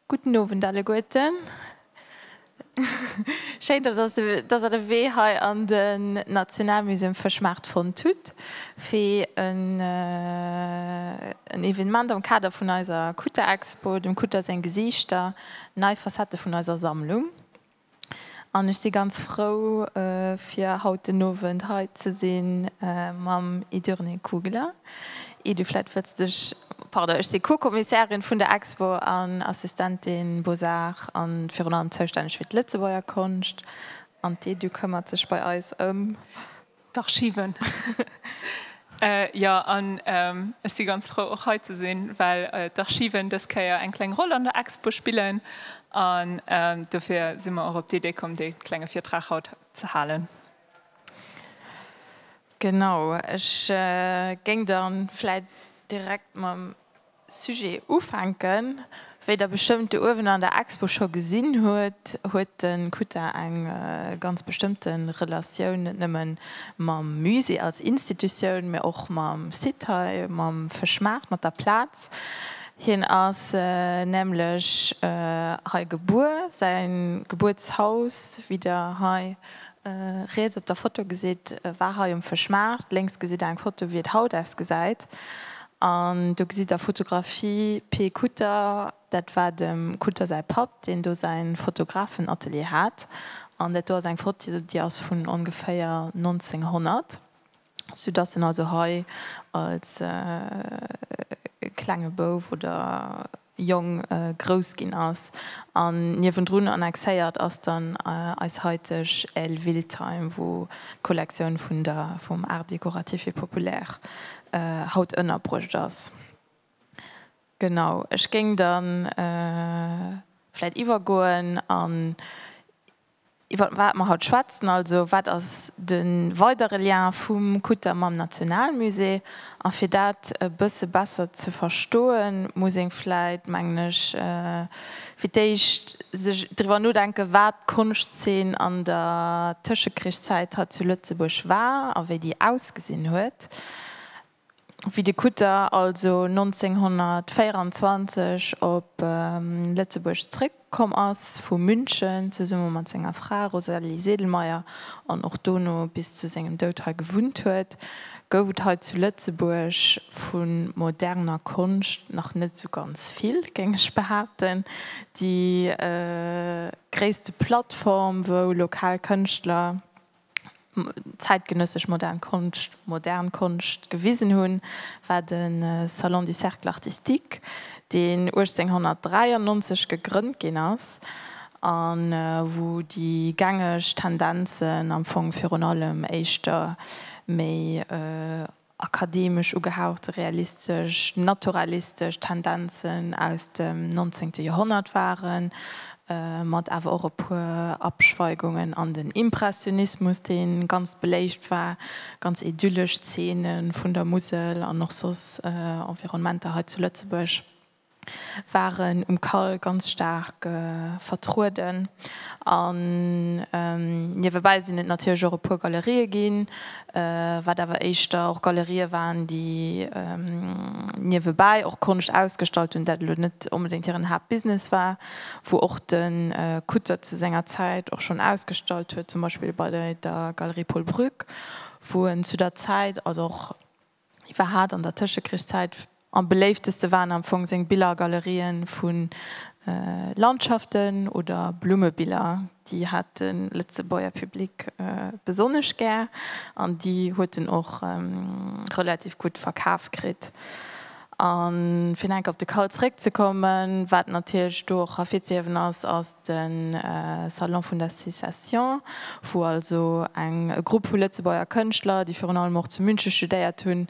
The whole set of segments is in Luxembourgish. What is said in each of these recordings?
Gudden Owend alleguerten. Schéin, dass Der de Wee hei an den Nationalmusée um Fëschmaart fonnt hutt, fir en Evenement am Kader vun eiser Kutter-Expo, dem Kutter seng Gesiichter, nei Facette vun eiser Sammlung. An ech si ganz frou, fir haut den Owend hei ze si mam Idurne Kugler. Ii, du vläit wëlls dech. Pardon, ech si Co-Kommissärin vun der Expo an Assistentin Beaux-Arts a virun allem zoustänneg fir d'Lëtzebuerger Konscht. An d'I, du këmmert sech bei eis ëm. D'Archiven. Jo, an ech si ganz frou och hei ze sinn, well d'Archiven dës Kéier eng kleng Roll an der Expo spillen. An dofir si mer och op d'Idee komm, dee klenge Virtrag haut ze halen. Genau, ech géing da vläicht direkt mam. Sujet ufänken. Wéi der bestëmmt do uewen an der Expo scho gesinn hutt, huet de Kuta eng ganz bestëmmte Relatioun net nëmme mam Musée als Institutioun, mä och mam Site hei, mam Fëschmaart, mat der Plaz. Hien ass nämlech hei gebuer, säi Gebuertshaus, wéi der hei riets op der Foto gesitt, war hei um Fëschmaart. Lénks gesitt der eng Foto, wéi et haut ausgesäit. An do gesitt der Fotografie P. Kutter, dat war dem Kutter säi Papp, deen do säi Fotografenatelier hat. An dat do ass eng Foto, déi ass vun ongeféier 1900, soudass en also hei als klenge Bouf oder. Jong grouss ginn ass an niewendrun annexéiert ass dann eis haiteg Aile Wiltheim, wou d'Kollektioun vun der vum Art décoratif et populaire haut ënnerbruecht ass. Genau, ech géing da vläit iwwergoen an Iwwer wat mer haut schwätzen, also wat ass de weidere Lien vum Kutter mam Nationalmusée? A fir dat e bësse besser ze verstoen, muss ee vläit, mengen ech, fir d'éischt sech driwwer nodenken, wat d'Konschtzeen an der Tëschekrichszäit hei zu Lëtzebuerg war a wéi déi ausgesinn huet. wéi de Kutter also 1924 op Lëtzebuerg zréck komm ass vu München, zesumme mat senger Fra Rosalie Sedlmayr, an och dono bis zu sengem Doud hei gewunnt huet, gouf et hei zu Lëtzebuerg vu moderner Konscht nach net esou ganz vill, géing ech behaapten. Déi gréisste Plattform, wou lokal Kënschtler zäitgenëssesch modern Konscht, modern Konscht gewisen hunn, war de Salon du Cercle Artistique, deen 1893 gegrënnt ginn ass, a wou déi gängeg Tendenzen am Fong virun allem éischter méi akademesch ugehauchte realistesch, naturalistesch Tendenzen aus dem nonzéngte Joerhonnert waren, mat awer och e puer Abschweigungen an den Impressionismus, dee ganz beléift war, ganz idyllesch Zeene vun der Musel an och soss Environnementer hei zu Lëtzebuerg. waren um Call ganz staark vertrueden an niewebäi sinn et natierlech och e puer Galerië ginn, wat awer éischter och Galerië waren, déi niewebäi och Konscht ausgestallt hunn, dat elo net onbedéngt hiren Haaptbusiness war, wou och de Kutter zu senger Zäit och schonn ausgestallt huet, zum Beispill bei der Galerie Paul Brück, wou en zu der Zäit, also och Hie war haart an der Tëschekrichszäit. Am beléifteste waren am Fong seng Billergalerien vu Landschaften oder Blummebiller. Déi hat de Lëtzebuerger Public besonnesch gär an déi huet en och relativ gutt verkaf kritt. A fir nach enk op de Kall zeréckzekommen, wat natierlech do och ervirzehiewen ass, ass de Salon vun der Secession, wou also eng Grupp vu Lëtzebuerger Kënschtler, déi virun allem och zu Münche studéiert hunn,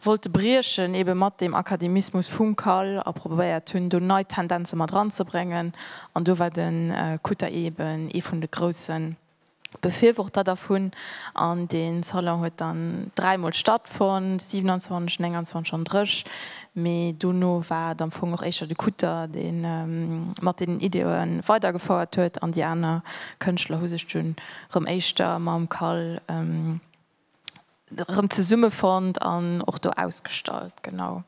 wollte briechen ebe mat deem Akademismus vum Kall a probéiert hunn, do nei Tendenze mat eranzebréngen. An do war de Kutter eben ee vun de grousse Befürworter dervun, an dee Salon huet dann dräi Mol stattfonnt, 27, 29 an dréch Mee. Dono war et am Fong och éischter de Kutter, dee mat deenen Ideeë weidergefouert huet, an déi aner Kënschtler hu sech dunn erëm éischter mam Call erëm zesummefonnt an och do ausgestallt. Genau.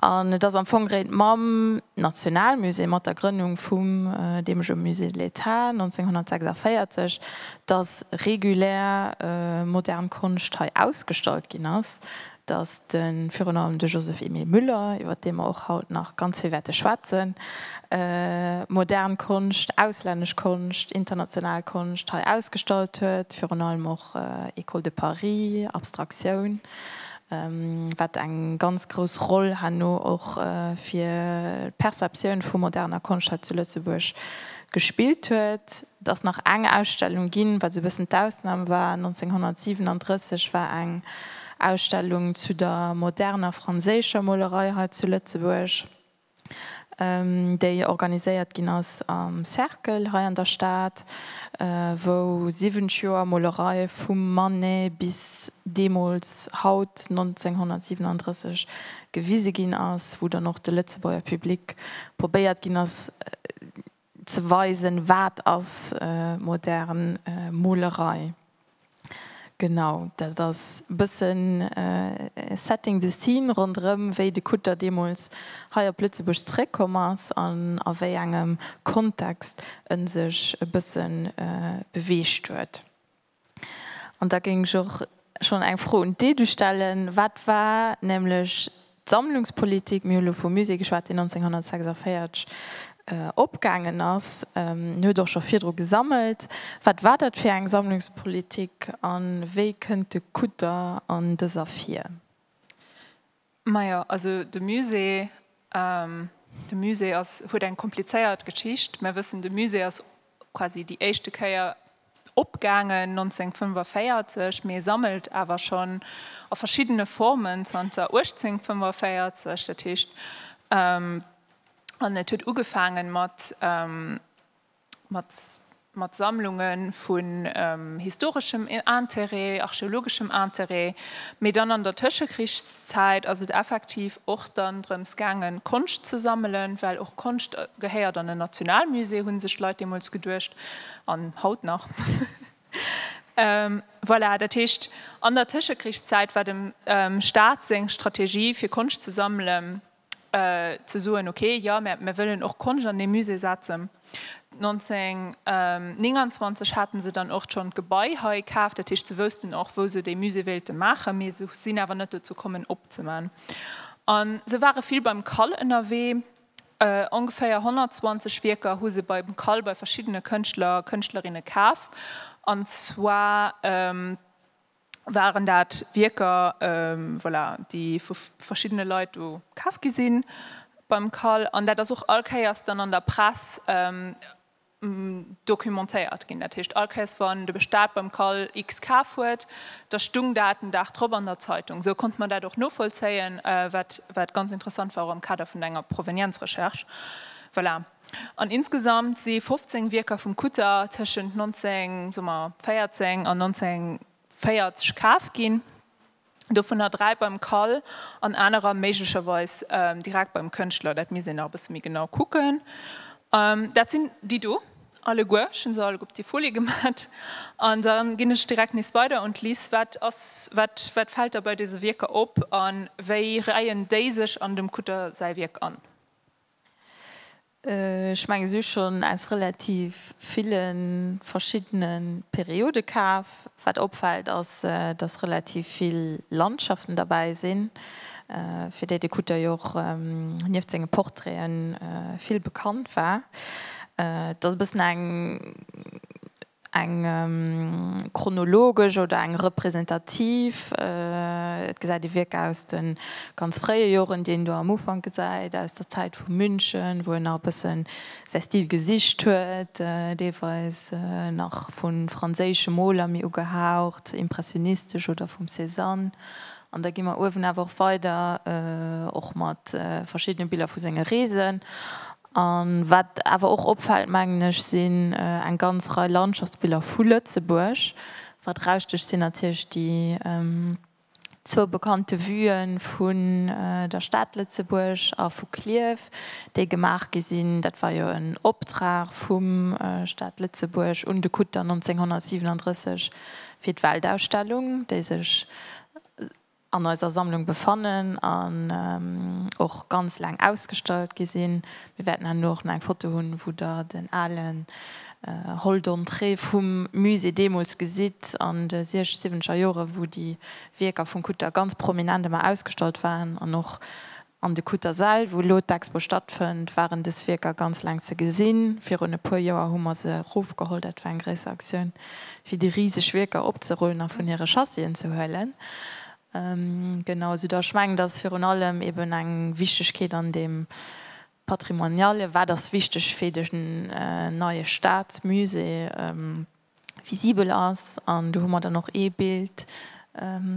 An et ass am Fong réit mam Nationalmusée, mat der Grënnung vum deemege Musée de l'État 1946, datt regulär modern Konscht hei ausgestallt ginn ass. datt de virun allem de Joseph Emile Müller, iwwer dee mer och haut nach ganz vill wäerte schwätzen, modern Konscht, auslännesch Konscht, international Konscht hei ausgestallt huet, virun allem och Ecole de Paris, Abstraktioun, wat eng ganz grouss Roll herno och fir d'Perceptioun vu moderner Konscht hei zu Lëtzebuerg gespillt huet. Et ass nach eng Ausstellung ginn, wat esou e bëssen d'Ausnam war. 1937 war eng Ausstellung zu der moderner franséischer Molerei hei zu Lëtzebuerg, déi organiséiert ginn ass am Cercle hei an der Stad, wou 70 Joer Molerei vum Manet bis deemools haut 1937 gewise ginn ass, wou dann och de Lëtzebuerger Public probéiert ginn ass, Ze weisen, wat ass modern Molerei. Genau, dat ass e bëssen setting the scene ronderëm, wéi de Kutter deemools hei op Lëtzebuerg zeréckkomm ass an a wéi engem Kontext e sech e bësse beweegt huet. An da géing ech och schonn eng Fro un d'Edu stellen. Wat war nämlech d'Sammlungspolitik, mir hu lo vum Musée geschwat, deen 1946 opgaangen ass, en huet och scho virdru gesammelt, wat war dat fir eng Sammlungspolitik a wéi kënnt de Kutter an dëser vir? Majo, also de Musée, de Musée ass, huet eng komplizéiert Geschicht. Mär wëssen, de Musée ass quasi déi éischte Kéier opgaangen 1945, mee e sammelt awer schonn a verschiddene Formen zanter 1845. Dat heescht, an et huet ugefaange mat, mat Sammlunge vun historeschem Interêt, archeologeschem Interêt, mee dann an der Tëschekrichszäit ass et effektiv och dann drëms gaangen, Konscht ze sammelen, well och Konscht gehéiert an en Nationalmusée, hu sech d'Leit deemools geduecht an haut nach. Voilà, dat heescht, an der Tëschekrichszäit war dem Staat seng Strategie, fir Konscht ze sammelen, ze soen, ok, jo, mä mir wëllen och Konscht an dee Musée setzen. 1929 hate se dann och schonn d'Gebai hei kaf, dat heescht se woussten och, wou se dee Musée wéilte maachen, mee se sinn awer net dozou komm, en opzeman. A se ware vill beim Kall ënnerwee, ongeféier 120 Wierker hu se beim Kall bei verschiddene Kënschtler a Kënschtlerinne kaf, an zwar waren dat Wierker, voilà, déi vu verschiddene Leit do kaf gi si beim Cal. An dat ass och all Kéiers dann an der Press documentéiert ginn. Dat heescht, all Kéiers wann de Staat beim Cal X kaf huet, da stoung dat den Dag drop an der Zeitung. Esou konnte mer dat och novollzéien, wat ganz interessant war, och am Kader vun enger Provenienzrecherche. Voilà. An insgesamt si 15 Wierker vum Kutter tëschent 1914 an 1940 kaf ginn, dovunner dräi beim Kall an anerer méiglecherweis direkt beim Kënschtler, dat misst een nach e bësse méi genau kucken. Dat sinn déi do alleguer, ech hu se alleguer op déi Folie gemat. An da ginn ech direkt nees weider un d'Liz. Wat ass, wat fält der bei dëse Wierker op a wéi reien déi sech an dem Kutter säi Wierk an? Ech mengen si hu schonn aus relativ ville verschiddene Periode kaf. Wat opfält ass, datt relativ vill Landschaften derbäi sinn, fir déi de Kutter jo och nieft senge Portraite vill bekannt war. Et ass e bëssen eng. eng chronologesch oder eng representativ, et gesäit ee Wierk aus de ganz fréie Joren, déi een do am Ufank gesäit, aus der Zäit vu München, wou en nach e bësse säi Stil gesicht huet, deelweis nach vu franséische Moler méi ugehaucht impressionistesch oder vum Cézanne. An da gi mer uewen awer och weider och mat verschiddene Biller vu senge Reesen. A wat awer och opfält, mengen ech, sinn eng ganz Rei Landschaftsbiller vu Lëtzebuerg. Wat erausstëcht, sinn natierlech déi zwou bekannte Vue vun der Stad Lëtzebuerg a vu Klierf, déi gemaach gi sinn. Dat war jo en Optrag vum Stad Lëtzebuerg un de Kutter 1937 fir d'Weltausstellung, déi sech an eiser Sammlung befannen an och ganz laang ausgestallt gi sinn. Mir wäerten herno och nach eng Foto hunn, wou Der den alen Hall d'entrée vum Musée deemools gesitt an de siech-, siwwenzeger Jore wou déi Wierker vum Kutter ganz prominent ëmmer ausgestallt waren an och An de Cuttersell, wou elo d'Expo stattfënnt, waren dës Wierker ganz laang ze gesinn. Virun e puer Joer hu mer se erofgeholl. Dat war eng gréisser Aktioun, fir déi riseg Wierker opzerullen a vun hire Chassien ze huelen. Genau, soudass ech mengen, dass virun allem eeben eng Wichtigkeet an deem Patrimoniale, Wat ass wichteg fir de neie Staatsmusée? visibel ass. An do hu mer dann och ee Bild,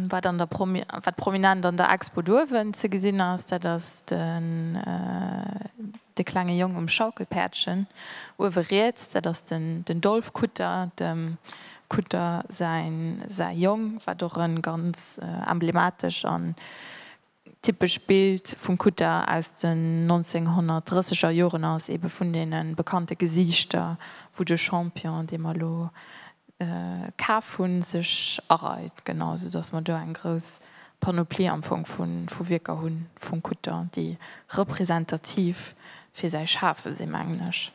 wat an der, wat prominent an der Expo duerwen ze gesinn ass. Dat ass den, de klenge Jong um Schaukelpäerdchen uewe riets. Dat ass den, den Dolf Kutter, dem Kutter säin, säi Jong, wat och e ganz emblematesch a Typescht Bild vum Kutter aus den 1930er Joren ass ebe vun deene bekannte Gesiichter, wou de Champion, dee mer elo kaf hunn, sech areit. Genau, esou datt mer do eng grouss Panoplie am Fong vu Wierker hu vum Kutter, déi representativ fir säi Schafe sinn, mengen ech.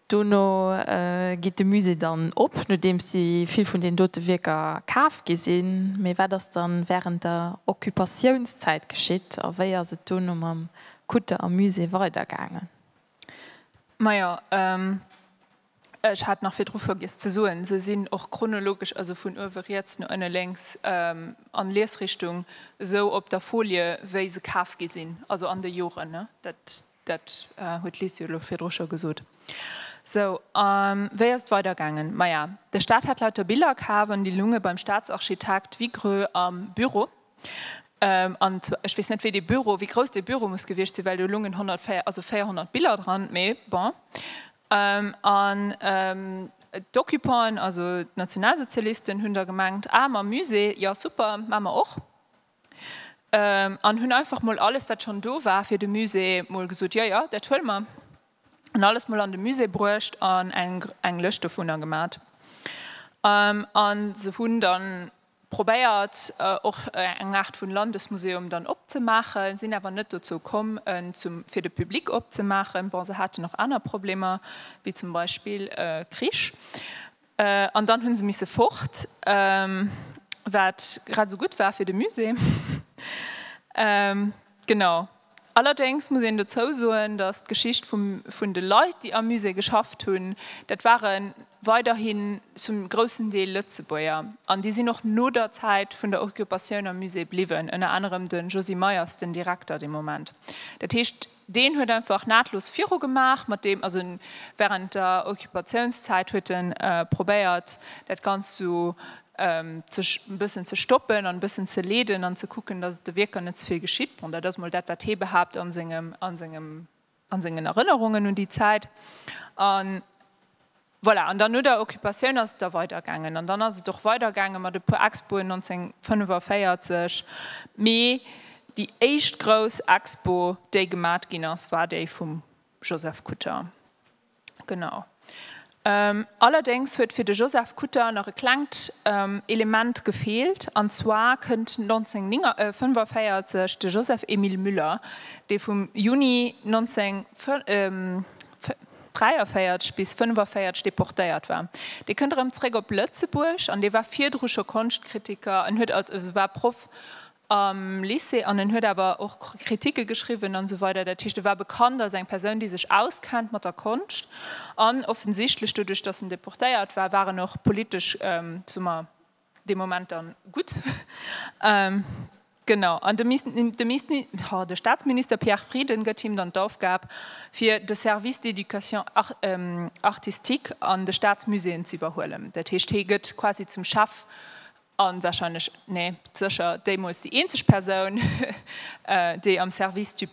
Dono geet de Musée dann op, nodeems déi vill vun den dote Wierker kaf gi sinn. Mee wat ass dann wärend der Occupatiounszäit geschitt a wéi ass et dono mam Kutter a Musée weidergaangen? Majo, ech hat nach virdru vergiess ze soen, se sinn och chronologesch, also vun uewe riets no ënne lénks an Liesrichtung, esou op der Folie wéi se kaf gi sinn, also an de Joren. Dat huet d'Liz jo elo virdru scho gesot. Sou, a wéi ass et weidergaangen? Maja, de Staat hat lauter Biller kaf an déi lunge beim Staatsarchitekt Vigreux am Büro. An zwar, ech weess net, wéi dee Büro, wéi grouss dee Büro muss gewiescht sinn, well do lungen 104, also 400 Biller dran, mee bon. An d'Occupanten, also d'Nationalsozialisten, hunn da gemengt, ah mam Musée, jo super, maa mer och. An hunn einfach mol alles, wat schonn do war fir de Musée, mol gesot, jo, jo, dat huele mer. Hunn alles mol an de Musée bruecht an eng Lëscht dovunner gemat. A se hunn da probéiert, och eng Aart vu Landesmuseum dann opzemaachen, sinn awer net dozou komm, en fir de Public opzemaachen. Bon, se haten och aner Problemer, wéi zum Beispill Krich. An dann hu se misse fort, wat grad esou gutt war fir de Musée. Genau. Allerdéngs muss een dozou soen, datt d'Geschicht vum vun de Leit, déi am Musée geschafft hunn, dat ware weiderhi zum groussen Deel Lëtzebuerger. An déi sinn och no der Zäit vun der Occupatioun am Musée bliwwen, ënner anerem de Josy Meyers, den Direkter de Moment. Dat heescht, Deen huet einfach nahtlos viru gemaach mat deem, also während der Occupatiounszäit huet en probéiert dat Ganzt sou ze e bëssen ze stoppen an e bëssen ze leeden an ze kucken, dass et de Wierker net ze vill geschitt. Bon, dat ass mol dat wat hee behaapt an sengem, an sengen Erënnerungen un déi Zäit. Voilà, an dann no der Occupatioun ass et da weidergaangen. An dann ass et och weidergaange mat e puer Expoen 1945. Mee déi éischt grouss Expo, déi gemat ginn ass, war déi vum Joseph Kutter. Genau. Allerdéngs huet fir de Joseph Kutter nach e klengt Element gefeelt. An zwar kënnt 1945 de Joseph-Emile Müller, dee vum Juni 19. 43 bis 45 deportéiert war. Dee kënnt erëm zréck op Lëtzebuerg an dee war virdru scho Konschtkritiker. En huet als, also war Proff am Lycée an en huet awer och Kritike geschriwwen an esou weider. Dat heescht, e war bekannt als eng Persoun, déi sech auskennt mat der Konscht. An offensichtlech doduerch, datt en deportéiert war, war en och politesch, soe mer, Dee Moment dann gutt. Genau. An de Staatsminister Pierre Frieden gëtt him dann d'Aufgab, fir de Service d'éducation artistique an de Staatsmuséeën z'iwwerhuelen. Dat heescht, hie gëtt quasi zum Chef a warscheinlech, nee, sécher deemools déi eenzeg Persoun, déi am Service des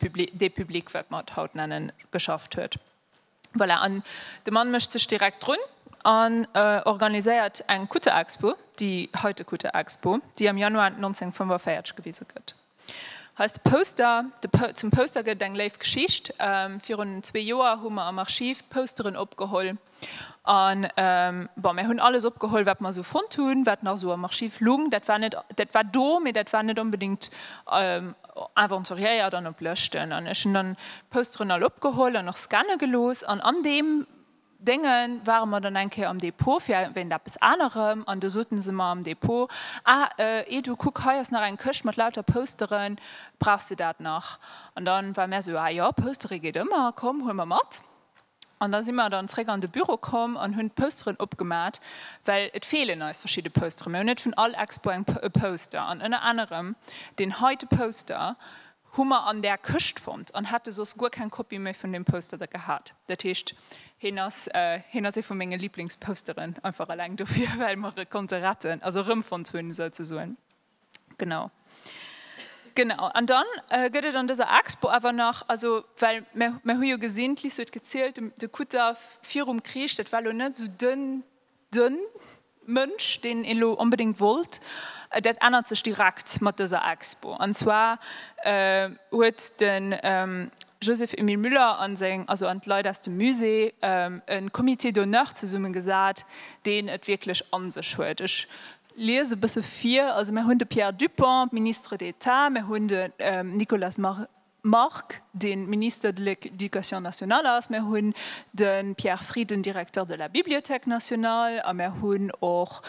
publics, wat mer et haut nennen, geschafft huet. Voilà, an de Mann mécht sech direkt drun an organiséiert eng Kutterexpo, déi heite Kutterexpo, déi am Januar 1945 gewise gëtt. Hei ass de Poster, zum Poster gëtt et eng léif Geschicht. Virun zwee Joer hu mer am Archiv d'Posteren opgeholl an, bon, mir hunn alles opgeholl, wat mer esou fonnt hunn, wat nach esou am Archiv lung. Dat war net, dat war do, mee dat war net onbedéngt Aventuriéier dann op Lëschten an ech hunn dann d'Posteren all opgeholl an och scanne gelooss an an deem Dénge ware mer dann eng Kéier am Depot fir wéint eppes anerem an do sote se mer am Depot, ah eh du kuck hei ass nach eng Këscht mat lauter Posteren, brauchs de dat nach? An da war mär esou, ah jo, Postere geet ëmmer, komm huel mer mat. An da si mer dann zréck an de Büro komm an hunn d'Pousteren opgemat, well et feelen eis verschidde Poustere. Mir hunn net vun all Expo eng e Pouster. An ënner anerem deen heite Pouster hu mer an där Këscht fonnt an hätte soss guer keng Kopie méi vun deem Pouster da gehat. Dat heescht, heen ass, heen ass ee vu menge Liblingspousteren, einfach eleng dofir, well mer e konnte retten, also erëmfonnt hunn souzesoen. Genau. Genau. An dann gëtt et an dëser Expo awer nach, also well mir hu jo gesinn, d'Liz huet gezielt, de Kutter virum Krich, dat war elo net esou de Mënsch, deen een elo onbedéngt wollt. Dat ännert sech direkt mat dëser Expo. An zwar huet de Joseph Emile Müller a seng, also an d'Leit aus dem Musée e Comité d'honneur zesummegesat, deen et wierklech a sech huet. Lies e bësse vir, Also mär hunn de Pierre Dupong, Ministre d'État, mär hunn de Nicolas Margue, dee Minister de l'Éducation nationale ass, mär hunn de Pierre Frieden, Directeur de la Bibliothèque nationale, a mär hunn och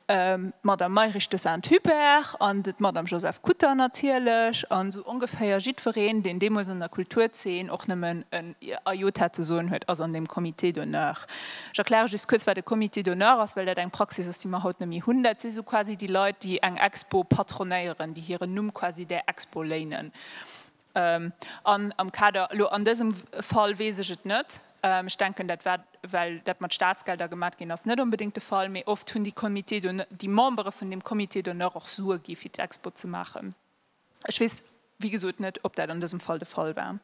d'Madame Mayrisch de Saint-Hubert an d'Madame Josèphe Kutter natierlech. An esou ongeféier jiddwereen, deen deemools an der Kulturzeen och nëmmen en Ajot hat ze soen, huet ass an deem Comité d'honneur. Ech erkläre just kuerz, wat e Comité d'honneur ass, well dat eng Praxis ass, déi mer haut net méi hunn. Dat si sou quasi déi Leit, déi eng Expo patronéieren, déi hiren Numm quasi där Expo léinen. An am Kader, elo an dësem Fall weess ech et net, ech denken, dat war, well dat mat Statsgelder gemat ginn ass, net onbedéngt de Fall. Mee oft hunn déi Comités d'honneur, déi Membere vun deem Comité d'honneur och Sue gi fir d'Expo ze maachen. Ech weess, wéi gesot, net, ob dat an dësem Fall de Fall war.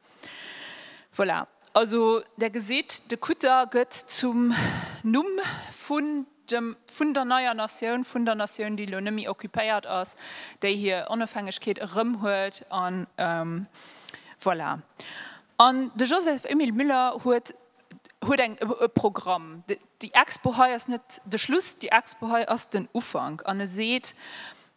Voilà. Also, Der gesitt, de Kutter gëtt zum Numm vun dem, vun der neier Natioun, vun der Natioun, déi elo net méi occupéiert ass, déi hir Onofhängegkeet erëm huet. An voilà. An de Joseph-Émile Müller huet, huet eng, e Programm. Déi Expo hei ass net de Schluss, déi Expo hei ass den Ufank. An e seet,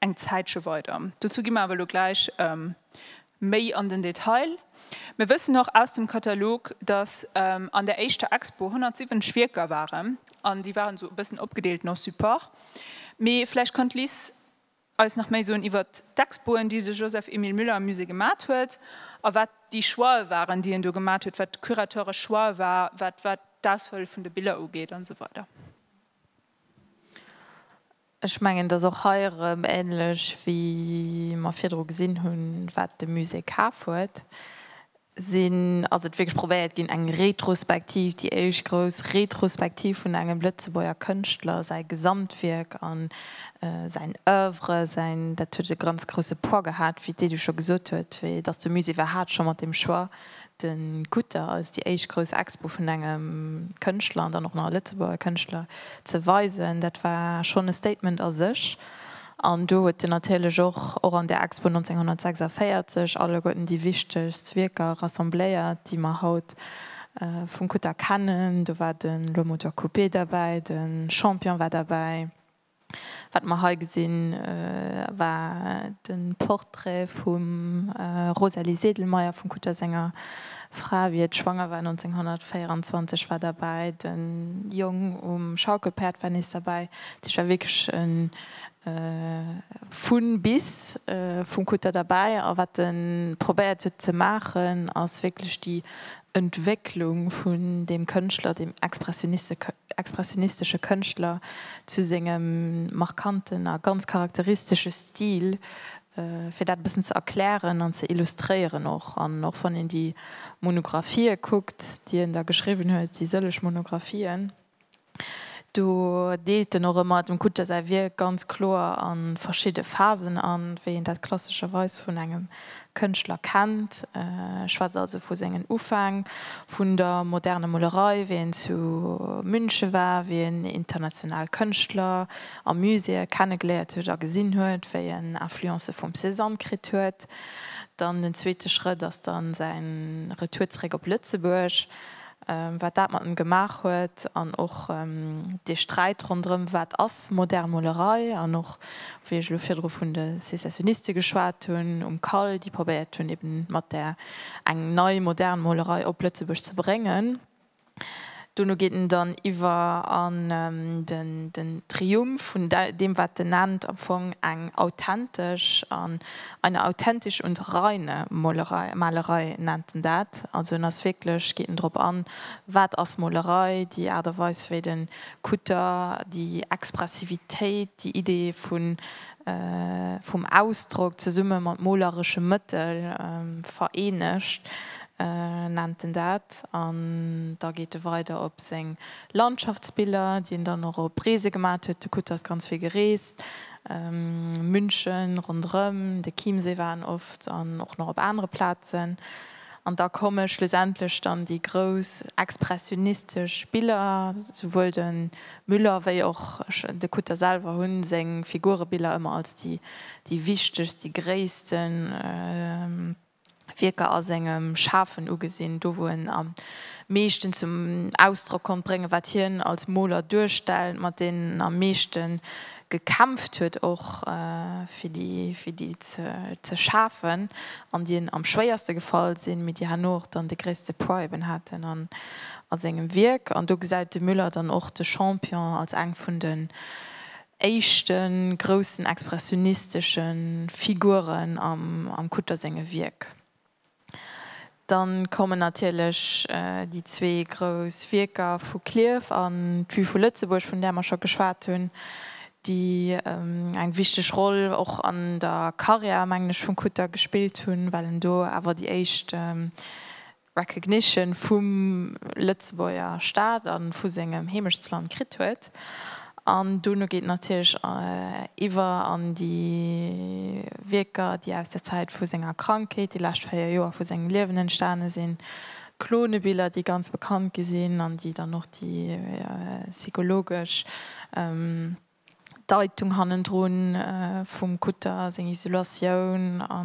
eng Zäitche weider. Dozou gi mer awer elo gläich méi an den Detail. Mir wëssen och aus dem Katalog, dass an der éischter Expo 170 Wierker waren, an déi waren esou e bëssen opgedeelt no Support. Mee vläicht kann d'Liz eis nach méi soen iwwert d'Expoen, déi de Joseph Emile Müller am Musée gemat huet a wat déi Choixë waren, déi en do gemat huet, wat curateuresch Choix war, wat d'Auswiel vun de Biller ugeet an esou weider. Ech mengen, et ass och hei erëm ähnlech, wéi mer virdru gesinn hunn, wat de Musée kaf huet, sinn, ass et wierklech probéiert ginn, eng Retrospektiv, déi éischt grouss Retrospektiv vun engem Lëtzebuerger Kënschtler, säi Gesamtwierk a säin Oeuvre, säin, dat huet e ganz grousse Poids gehat, wéi d'Edu scho gesot huet, wéi et ass, de Musée war haart scho mat deem Choix. De Kutter ass déi éischt grouss Expo vun engem Kënschtler an dann och nach e Lëtzebuerger Kënschtler ze weisen. Dat war schonn e Statement a sech. An do huet en natierlech och, och an där Expo 1946, alleguerten déi wichtegst Wierker rassembléiert, déi mer haut vum Kutter kennen. Do war de Le Moteur Coupé derbäi, de Champion war derbäi. Wat mer hei gesinn, war de Portrait vum Rosalie Sedlmayr vum Kutter senger Fra, wéi et schwanger war, 1924, war derbäi. De Jong um Schaukelpäerd war nees derbäi. Dat heescht, war wierklech e vun bis vum Kutter derbäi. A wat e probéiert huet ze maachen, ass wierklech déi Entwécklung vun deem Kënschtler, deem Expressioniste expressionistesche Kënschtler zu sengem markanten a ganz charakteristesche Stil, fir dat e bëssen ze erklären an ze illustréieren och. An och wann een déi Monographië kuckt, déi en da geschriwwen huet, déi sëlleg Monographien, do deelt en och ëmmer dem Kutscher säi Wierk ganz kloer a verschidde Phasen an, wéi een dat klassescherweis vun engem Kënschtler kennt. Ech schwätze also vu sengen Ufäng vun der moderner Molerei, wéi en zu München war, wéi en international Kënschtler a Muséeë kennegeléiert huet a gesinn huet, wéi en Influencë vum Cézanne kritt huet. Dann den zweete Schrëtt ass dann säin Retour zeréck op Lëtzebuerg. wat dat mat em gemaach huet an och dee Sträit ronderëm, wat ass modern Molerei an och wéi ech elo virdru vun de Secessioniste geschwat hunn um CAL, déi probéiert hunn eben mat där eng nei modern Molerei op Lëtzebuerg ze bréngen. Dono geet en dann iwwer an den Triumph vun deem wat en nennt am Fong eng authentesch an Eine authentische und reine Molerei, Malerei nennt en dat. Also en ass wierklech, geet en drop an, wat ass Molerei, déi Aart a Weis wéi de Kutter déi Expressivitéit, déi Idee vun, vum Ausdrock zesumme mat moleresche Mëttel vereenegt, nennt en dat. An da geet e weider op seng Landschaftsbiller, déi en dann och op Reese gemat huet, de Kutter ass ganz vill gereest. München, ronderëm de Chiemsee war en oft an och nach op anere Plazen. An da komme schlussendlech dann déi grouss expressionistesch Biller, souwuel de Müller wéi och de Kutter selwer hu seng Figurebiller ëmmer als déi wichtegst, déi gréissten, Wierker a sengem Schafen ugesinn, do wou en am meeschten zum Ausdrock konnt bréngen, wat hien als Moler duerstellt, mat deenen en am meeschte gekämpft huet och, fir déi ze schafen, an déi en am schwéierste gefall sinn, mee déi herno och dann de gréisste Poids eben haten a sengem Wierk. An do gesäit de Müller dann och de Champion als eng vun de éischte groussen expressionistesche Figuren am Kutter senge Wierk. Dann kommen natierlech déi zwee grouss Wierker vu Klierf an d'Vue vu Lëtzebuerg, vun där mer scho geschwat hunn, déi eng wichteg Roll och an der Karriär, mengen ech, vum Kutter gespillt hunn, well en do awer déi éischt Recognition vum Lëtzebuerger Staat a vu sengem Heemechtsland kritt huet. An dono geet natierlech iwwer an déi Wierker, déi aus der Zäit vu senger Krankheet, déi lescht 4 Joer vu sengem Liewen entstane sinn, Klonebiller, déi ganz bekannt gi sinn an déi dann och déi psychologesch D'Deitung hannendru vum Kutter, seng Isolatioun a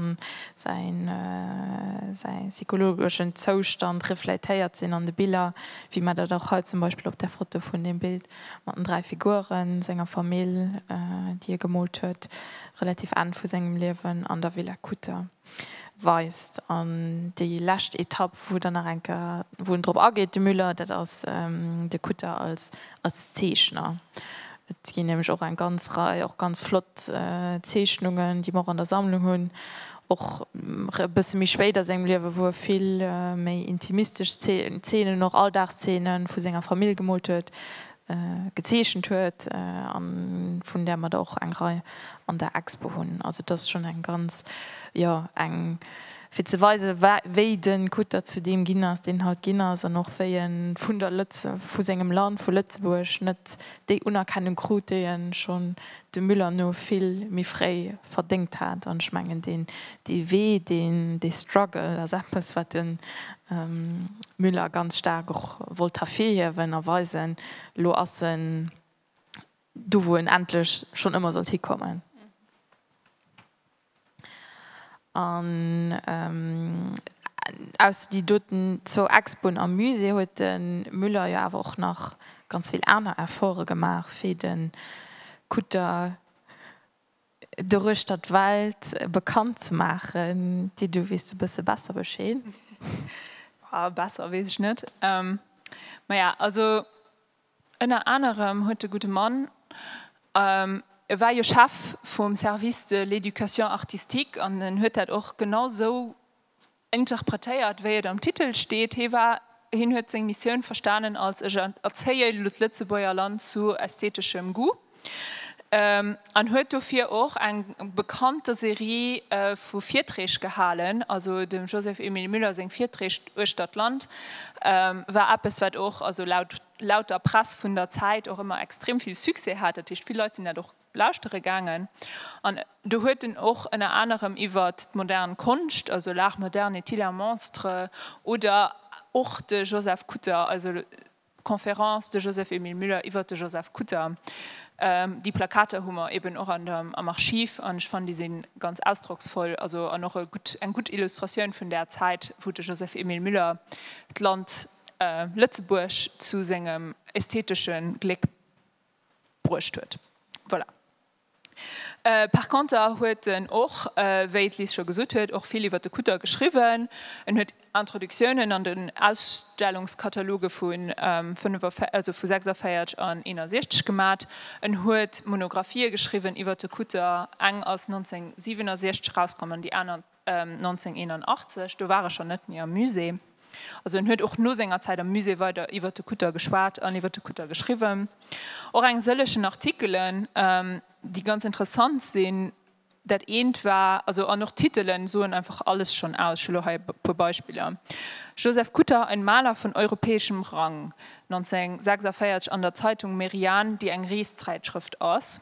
säi psychologeschen Zoustand refléitéiert sinn an de Biller, wéi mer dat och hei zum Beispill op där Foto vun deem Bild mat den dräi Figuren, senger Famill, déi e gemoolt huet, relativ Enn vu sengem Liewen, an der Villa Kutter. weist. An déi lescht Etapp, wou dann nach eng Kéier, wou en drop ageet, de Müller, dat ass de Kutter als Zeechner. Et ginn nämlech och eng ganz Rei och ganz flott Zeechnungen, déi mer och an der Sammlung hunn, och e bësse méi spéit a sengem Liewe, wou e vill méi intimistesch Zeenen, och Alldagszeene vu senger Famill gemoolt huet, gezeechent huet an vun där mer der och eng Rei an der Expo hunn. Also et ass schonn eng ganz, jo eng fir ze weisen wa wéi de Kutter zu deem ginn ass deen haut ginn ass an och wéi e vun der Lëtze vu sengem Land, vu Lëtzebuerg net déi Unerkennung krut déi e schonn dem Müller no vill méi fréi verdéngt hat. An ech mengen deen Dee Wee, deen, dee Struggle ass eppes, wat de Müller ganz staark och wollt hervirhiewen a weisen. Elo ass en do, wou en endlech schonn ëmmer sollt hikommen. An ausser déi doten zwou Expoen am Musée huet de Müller jo awer och nach ganz vill aner Efforte gemaach, fir de Kutter, Doruechter d'Welt bekannt ze maachen. Di, du weess e bësse besser Bescheed. Boah, besser weess ech net. Ähm, maja, also ënner anerem huet de gudde Mann, ähm, e war jo Chef vum Service de l'éducation artistique an en huet dat och genau sou Interpretéiert, wéi et am Titel steet, hee war, hien huet seng Missioun verstanen als, ech erzéie elo d'Lëtzebuerger Land zu ästheteschem Goût, an huet dofir och eng bekannte Serie vu Virträg gehalen. Also dem Joseph Emile Müller seng Virträg uechter d'Land war eppes, wat och, also laut der Press vun der Zäit, och ëmmer extrem vill Succès hat. Dat heescht, vill Leit sinn dat och Lauschtere gaangen an do huet en och ënner anerem iwwert d'modern Konscht, also l'art moderne est-il un monstre? oder och de Joseph Kutter, also d'Conférence de Joseph-Emile Müller iwwert de Joseph Kutter. Déi Plakater hu mer eben och am Archiv an ech fannen déi si ganz ausdrocksvoll, also an och e gutt, eng gutt Illustratioun vun där Zäit wou de Joseph-Emile Müller d'Land Lëtzebuerg zu sengem ästheteschen Gléck bruecht huet. Voilà. Par conter huet en och, wéi d'Liz scho gesot huet, och vill iwwert de Kutter geschriwwen. En huet Introductiounen an den Ausstellungskataloge vu 46 an 61 gemat. En huet Monographie geschriwwen iwwert de Kutter, eng ass 1967 erauskomm an déi aner 1981, do war e schonn net méi am Musée. Also en huet och no senger Zäit am Musée weider iwwer de Kutter geschwat an iwwer de Kutter geschriwwen. Och eng sëllegen Artikelen, déi ganz interessant sinn. Dat eent war, also an och d'Titele soen einfach alles schonn aus. Ech hu lo hei e puer Beispiller, Joseph Kutter, ein Maler von europäischem Rang, 1946 an der Zeitung Merian, déi eng Reeszeitschrëft ass.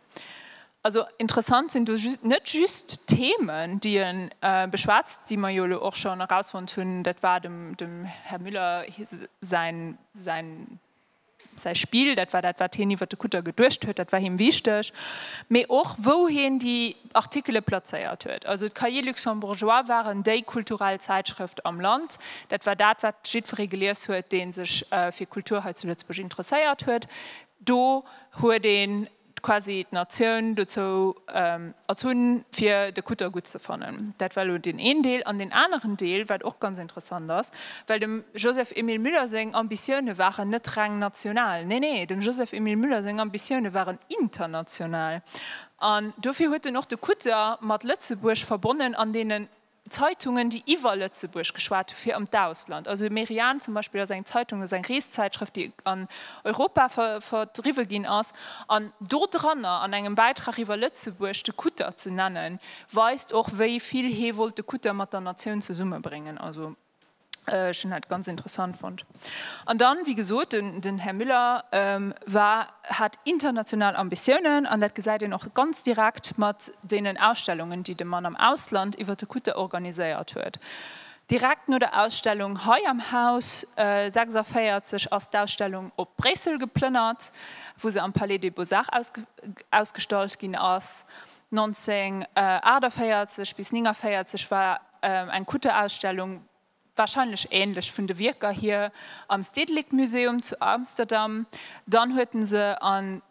Also interessant sinn do net just d'Themen, déi e beschwätzt, déi mer jo elo och schonn erausfonnt hunn, dat war dem Här Müller säi Spill, dat war dat, wat hien iwwer de Kutter geduecht huet, dat war him wichteg, mee och wou hien déi Artikele plazéiert huet. Also d'Cahiers luxembourgeois waren déi kulturell Zäitschrëft am Land, dat war dat, wat jiddweree gelies huet, dee sech fir Kultur hei zu Lëtzebuerg interesséiert huet. Do huet een quasi d'Natioun dozou erzunn, fir de Kutter gutt ze fannen. Dat war elo deen een Deel. An deen aneren Deel, wat och ganz interessant ass, well dem Joseph Emile Müller seng Ambitioune waren net reng national, nee, nee, dem Joseph Emile Müller seng Ambitioune waren international. An dofir huet en och de Kutter mat Lëtzebuerg verbonnen an deenen Zeitungen, déi iwwer Lëtzebuerg geschwat hu fir an d'Ausland. Also Merian zum Beispill ass eng Zeitung, dat ass eng Reeszäitschrëft, déi an Europa verdriwwe ginn ass. An do dranner an engem Bäitrag iwwer Lëtzebuerg de Kutter ze nennen, weist och, wéi vill hee wollt de Kutter mat der Natioun zesummebréngen. Ech hunn dat ganz interessant fonnt. An dann, wéi gesot, den Här Müller war, hat international Ambitiounen. An dat gesäit een och ganz direkt mat deenen Ausstellungen, déi de Mann am Ausland iwwer de Kutter organiséiert huet. Direkt no der Ausstellung hei am Haus 46 ass d'Ausstellung op Bréissel geplënnert, wou se am Palais des Beaux-Arts ausgestallt ginn ass. 1948 bis 1949 war. Eng Kutterausstellung, wahrscheinlech ähnlech vun de Wierker hier, am Stedelijk Museum zu Amsterdam. Dann huet en se an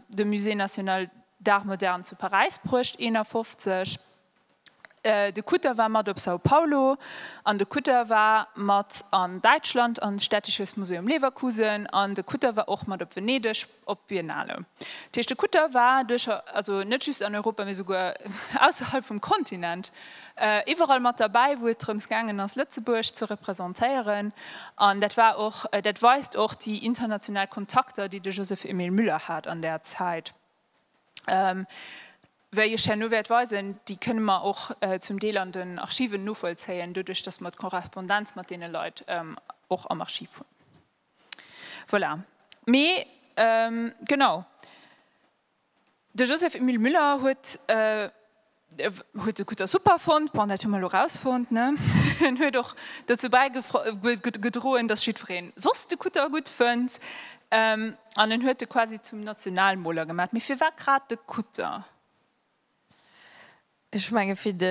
de Musée national d'art moderne zu Paräis bruecht, 51. De Kutter war mat op São Paulo an de Kutter war mat an Däitschland an Städtisches Museum Leverkusen an de Kutter war och mat op Venedeg. Op d'Biennale. Dat heescht, de Kutter war duercher, also net just an Europa, mee souguer ausserhalb vum Kontinent, iwwerall mat derbäi, wou et drëms gaangen ass, Lëtzebuerg ze representéieren. An dat war och, dat weist och déi international Kontakter, déi de Joseph Emile Müller hat an där Zäit, wéi ech herno wäert weisen, déi kënne mer och zum Deel an den Archiven novollzéien, doduerch datt mer d'Korrespondenz mat deene Leit och am Archiv hunn. Voilà. Mee genau, de Joseph Emile Müller huet huet de Kutter super fonnt, bon dat hu mer elo erausfonnt, ne? En huet och dozou bäigedroen, datt jiddweree soss de Kutter gutt fënnt an en huet e quasi zum Nationalmoler gemat. Mee firwat grad de Kutter? Ech menge fir de,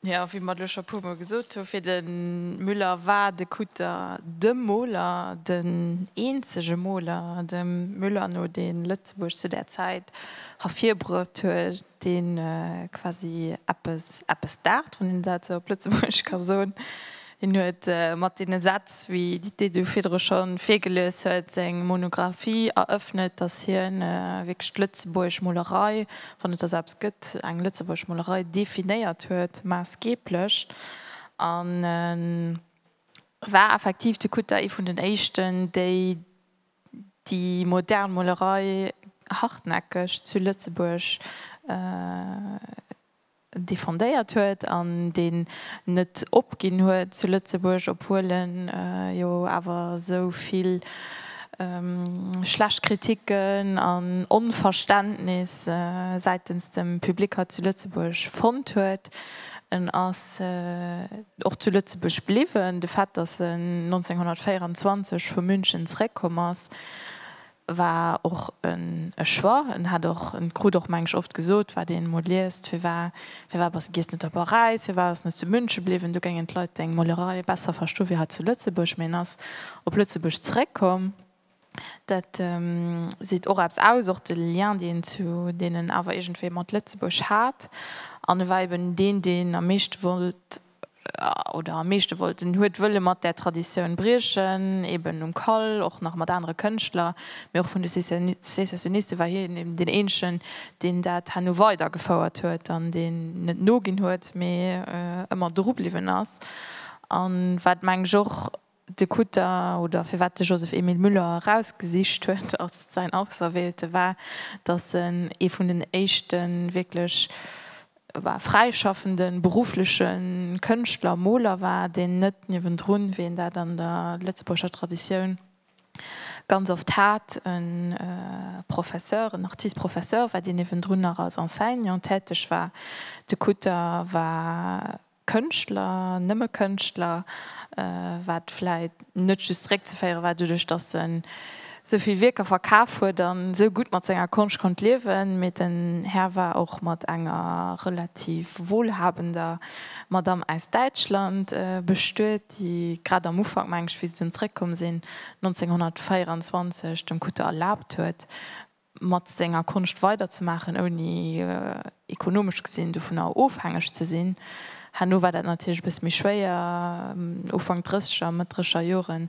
jo, wéi mer et elo scho e puer Mol gesot hunn, fir de Müller war de Kutter de Moler, den eenzege Moler dem Müller no, dee Lëtzebuerg zu där Zäit ervirbruecht huet, dee quasi eppes, eppes d'art, wann een dat esou op Lëtzebuergesch ka soen, Hien huet mat deene Sätz, wéi déi déi du virdru scho virgelies huet, seng Monographie erëffnet, datt hien wierklech d'lëtzebuergesch Molerei, wann et der sebst gëtt, eng lëtzebuergesch Molerei, definéiert huet, maassgeeblech. A war effektiv de Kutter ee vun den éischten, déi déi modern Molerei hartnäckeg zu Lëtzebuerg defendéiert huet an deen net opginn huet zu Lëtzebuerg, obwuel e jo awer esou vill schlecht Kritiken an Onverständnis säitens dem Public hei zu Lëtzebuerg fonnt huet. En ass och zu Lëtzebuerg bliwwen. De Fait, datt en 1924 vu München zeréckkomm ass, War och e Choix. En hat och, en krut och mengen ech oft gesot, wat een emol liest, firwar, firwar bass de giess net op Paräis, firwar ass net zu München bliwwen, do géingen d'Leit deng Molerei besser verstoen wéi hei zu Lëtzebuerg. Mee en ass op Lëtzebuerg zeréckkomm. Dat seet och eppes aus, och de Lien deen en zu deenen awer iergendwéi mat Lëtzebuerg hat. An e war eben deen, deen am meeschte wollt. oder am meeschte wollten, huet wëlle mat där Traditioun briechen, eben um Kall, och nach mat anere Kënschtler, mee och vun de Secessioniste war hien eben deen eenzegen, deen dat herno weider gefouert huet an deen net noginn huet, mee ëmmer dru bliwwen ass. An wat, meng ech, och De Kutter, oder firwat de Joseph Emile Müller erausgesicht huet als säin Auserwählte war, datt en ee vun den éischte wierklech fräischaffende beruffleche Kënschtler, Moler war, deen net niewendrun, wéi een dat an der lëtzebuergescher Traditioun ganz oft hat, e Professeur, en Artiste-professeur war, deen niewendrun nach als Enseignant täteg war. De Kutter war Kënschtler, nëmme Kënschtler, wat vläit net just zréckzeféiere war doduerch, datt e sou vill Wierker verkaf huet a sou gutt mat senger Konscht konnt liewen, mee den Här war och mat enger relativ wohlhabender Madame aus Däitschland bestuet, déi grad am Ufank, meng ech, wéi se dunn zréckkomm sinn, 1924, dem Kutte erlaabt huet, mat senger Konscht weider ze maachen, ouni ekonomesch gesinn dovunner ofhängeg ze sinn. Herno war dat natierlech e bësse méi schwéier, Ufank Drësseger, Mëtt Drësseger Joren,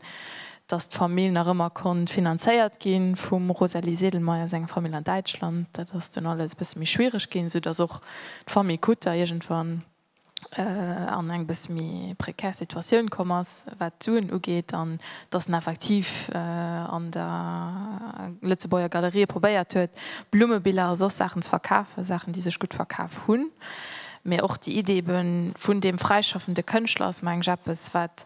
datt d'Famill nach ëmmer konnt finanzéiert gi vum Rosalie Sedlmayr senger Famill an Däitschland. Dat ass dunn alles e bësse méi schwiereg ginn, esou datt och d'Famill Kutter iergendwann an eng bësse méi prekär Situatioun komm ass, wat d'Suen ugeet, an dass en effektiv an der Lëtzebuerger Galerië probéiert huet, Blummebiller a soss Saachen ze verkafen, Saachen, déi sech gutt verkaf hunn. Mee och déi Iddi ebe vun deem fräischaffende Kënschtler ass, meng ech, eppes, wat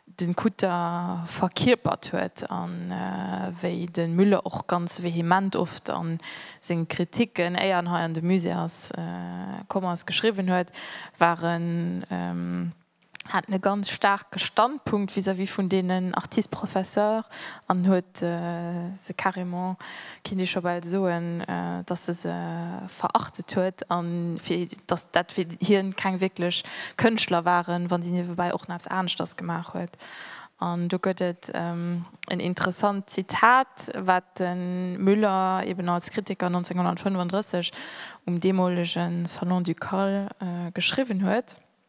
den Kutter verkierpert huet a wéi den Müller och ganz vehement oft an sengen Kritiken éier en hei an de Musée ass komm ass geschriwwen huet, war en, hat en e ganz staarke Standpunkt vis-à-vis vun deenen Artistes-professeurs an huet se carrément Kinnt ee scho bal soen, dass e se verachtet huet an dass dat fir hien keng wierklech Kënschtler waren, wann déi niewebäi och nach eppes aneschters gemaach huet. An do gëtt et en interessant Zitat, wat de Müller eben als Kritiker 1935 um deemolege Salon du Cal geschriwwen huet,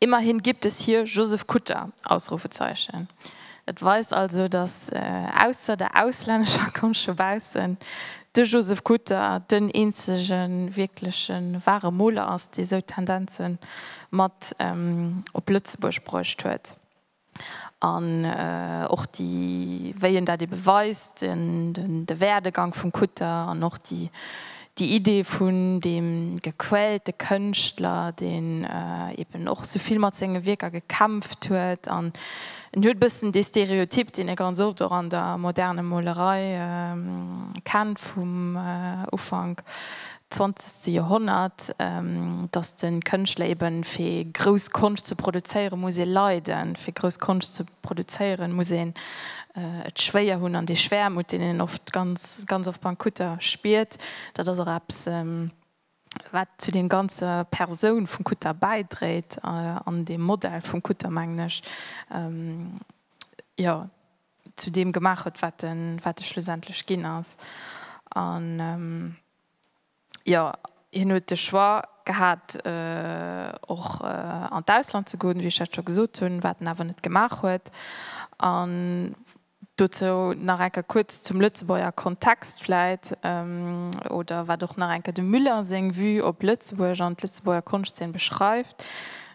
Immerhin gibt es hier Josef Kutter! Ausrufezeichen Et weist also, datt ausser der auslännescher Konscht vu baussen, de Josef Kutter den eenzege wierkleche ware Moler ass, dee sou Tendenze mat op Lëtzebuerg bruecht huet. an och déi, wéi en dat ebe weist, de Werdegang vum Kutter an och déi Idee vun deem gequälte Kënschtler, deen eben och esou vill mat senge Wierker gekämpft huet. An en huet e bëssen dee Stereotyp, deen ee ganz oft och an der moderne Molerei kennt vum Ufank 20. Joerhonnert, datt de Kënschtler eben, fir grouss Konscht ze produzéieren, muss ee leiden, fir grouss Konscht ze produzéieren, muss een et schwéier hunn, an dee Schwäermut, deen een oft, ganz, ganz oft beim Kutter spiert, dat ass och eppes, wat zu deem ganze Persoun vum Kutter bäidréit an deem Modell vum Kutter, mengen ech. Jo. zu deem gemaach huet, wat e schlussendlech ginn ass. An jo, hien huet de Choix gehat, och an d'Ausland ze goen, wéi ech dat scho gesot hunn, wat en awer net gemaach huet. An dozou nach eng Kéier kuerz zum Lëtzebuerger Kontext vläit, oder wat och nach eng Kéier dem Müller seng Vue op Lëtzebuerg an d'Lëtzebuerger Konschtzeen beschreift,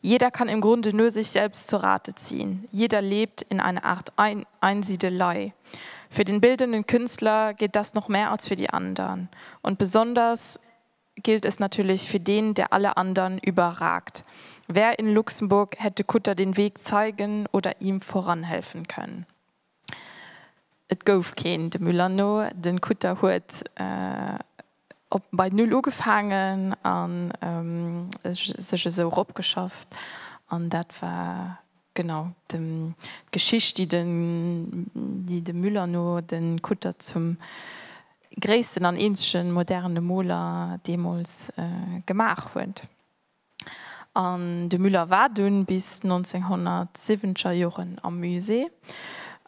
Jeder kann im Grunde nur sich selbst zu Rate ziehen, jeder lebt in einer Art Einsiedelei. Für den bildenden Künstler gilt das noch mehr als für die anderen. Und besonders gilt es natürlich für den, der alle anderen überragt. Wer in Luxemburg hätte Kutter den Weg zeigen oder ihm voranhelfen können? Et gouf keen, dem Müller no. Den Kutter huet op bei Null ugefaangen an sech esou ropgeschafft. An dat war genau den d'Geschicht déi den déi dem Müller no den Kutter zum gréissten an eenzegen modernen Moler deemols gemaach huet. An de Müller war dunn bis 1970er Joren am Musée,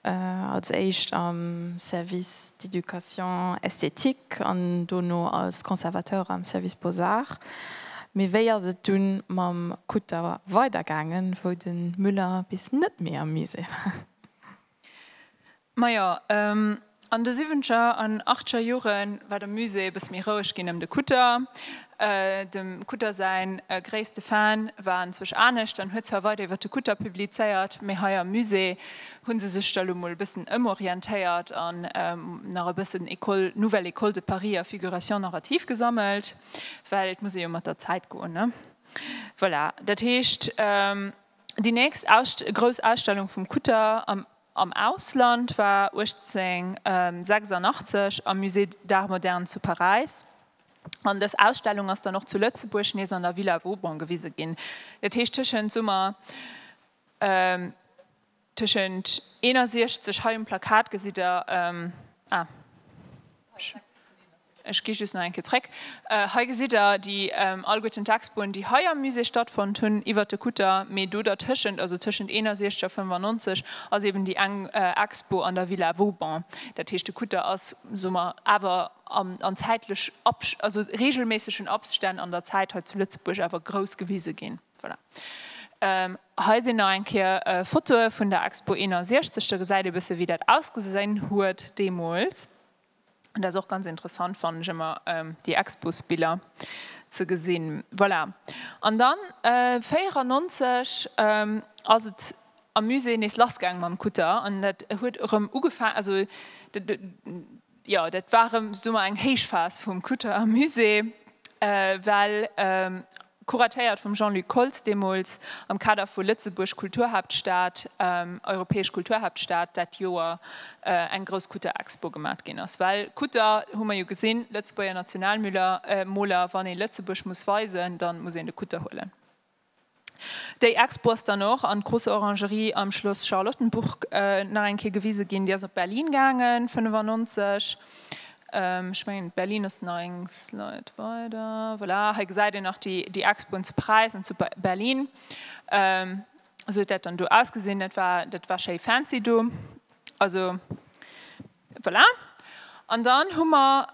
als éischt am Service d'éducation esthétique an dono als Conservateur am Service Beaux-Arts. Mee wéi ass et dunn mam Kutter weidergaangen, wou de Müller bis net méi am Musée war? Majo, an de siwwenzeger an achteger Jore war de Musée e bësse méi roueg ginn ëm de Kutter. Dem Kutter säi gréisste Fan war anzwousch anescht an huet zwar weider iwwer de Kutter publizéiert, mee hei am Musée hu se sech da lo mol e bëssen ëmorientéiert an nach e bëssen École, Nouvelle École de Paris a Figuration narrative gesammelt, well et muss ee jo mat der Zäit goen, ne? Voilà, dat heescht. Déi nächst grouss Ausstellung vum Kutter am Ausland war 1886 am Musée d'Art moderne zu Paräis. An dës Ausstellung ass dann och zu Lëtzebuerg nees an der Villa Vauban gewise ginn. Dat heescht tëschent Summer tëschent 61, hei um Plakat gesitt Der, ah. Ech gi just nach eng Kéier zréck. Hei gesitt Der déi allgutten Textbunn, déi hei am Musée stattfonnt hunn iwwert de Kutter. Mee do dertëschent, also tëschent 61 a 95, ass eeben déi eng Expo an der Villa Vauban. Dat heescht, de Kutter ass, soe mer, awer an zäitlech, also reegelméissegen Abstänn an der Zäit hei zu Lëtzebuerg awer grouss gewise ginn. Voilà. Hei sinn nach eng Kéier Fotoe vun der Expo 61. Da gesäit ee bësse wéi dat ausgesinn huet deemools. Dat ass och ganz interessant, fannen ech ëmmer, déi Expos-Biller ze gesinn. Voilà. An da 94 ass et am Musée nees lassgaange mam Kutter an dat huet erëm ugefaangen, also jo, dat war erëm, soe mer, eng Héichphas vum Kutter am Musée, well Kuratéiert vum Jean-Luc Koltz deemools am Kader vu Lëtzebuerg Kulturhaaptstad, europäesch Kulturhaaptstad dat Joer eng grouss Kutter-Expo gemaacht ginn ass. Well Kutter hu mer jo gesinn, Lëtzebuerger Nationalmüller, Moler, wann ee Lëtzebuerg muss weisen, da muss een de Kutter huelen. Déi Expo ass dann och an d'Große Orangerie am Schloss Charlottenburg nach eng Kéier gewise ginn. Déi ass op Berlin gaangen, 1995. Ech mengen Berlin ass nach eng Slide weider. Voilà, hei gesäit een nach déi, déi Expoen zu Präis an zu Berlin. Esou huet dat dann do ausgesinn. Dat war, dat war schéi fancy do. Also voilà. An dann hu mer,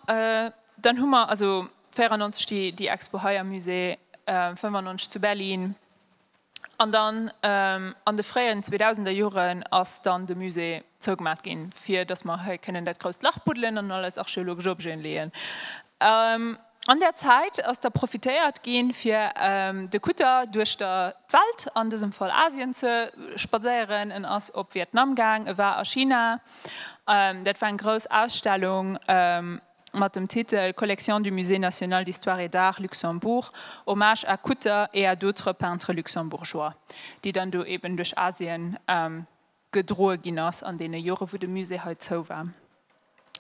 dann hu mer also 94 déi, déi Expo hei am Musée, 95 zu Berlin. An dann an de fréien zweedausender Joren ass dann de Musée zougemaach ginn, fir datt mer hei kënnen dat grousst Lach buddelen an all eis archeologesch Objeten leeën. An där Zäit ass da profitéiert gi fir de Kutter duerch d'Welt, an dësem Fall Asien, ze spadséieren. En ass op Vietnam gaang, e war a China, dat war eng grouss Ausstellung, mat dem Titel Collection du Musée National d'Histoire et d'Art, Luxembourg, Hommage à Kutter et à d'autres peintres luxembourgeois, déi dann do eben duerch Asien gedroe ginn ass an deene Jore wou de Musée hei zou war.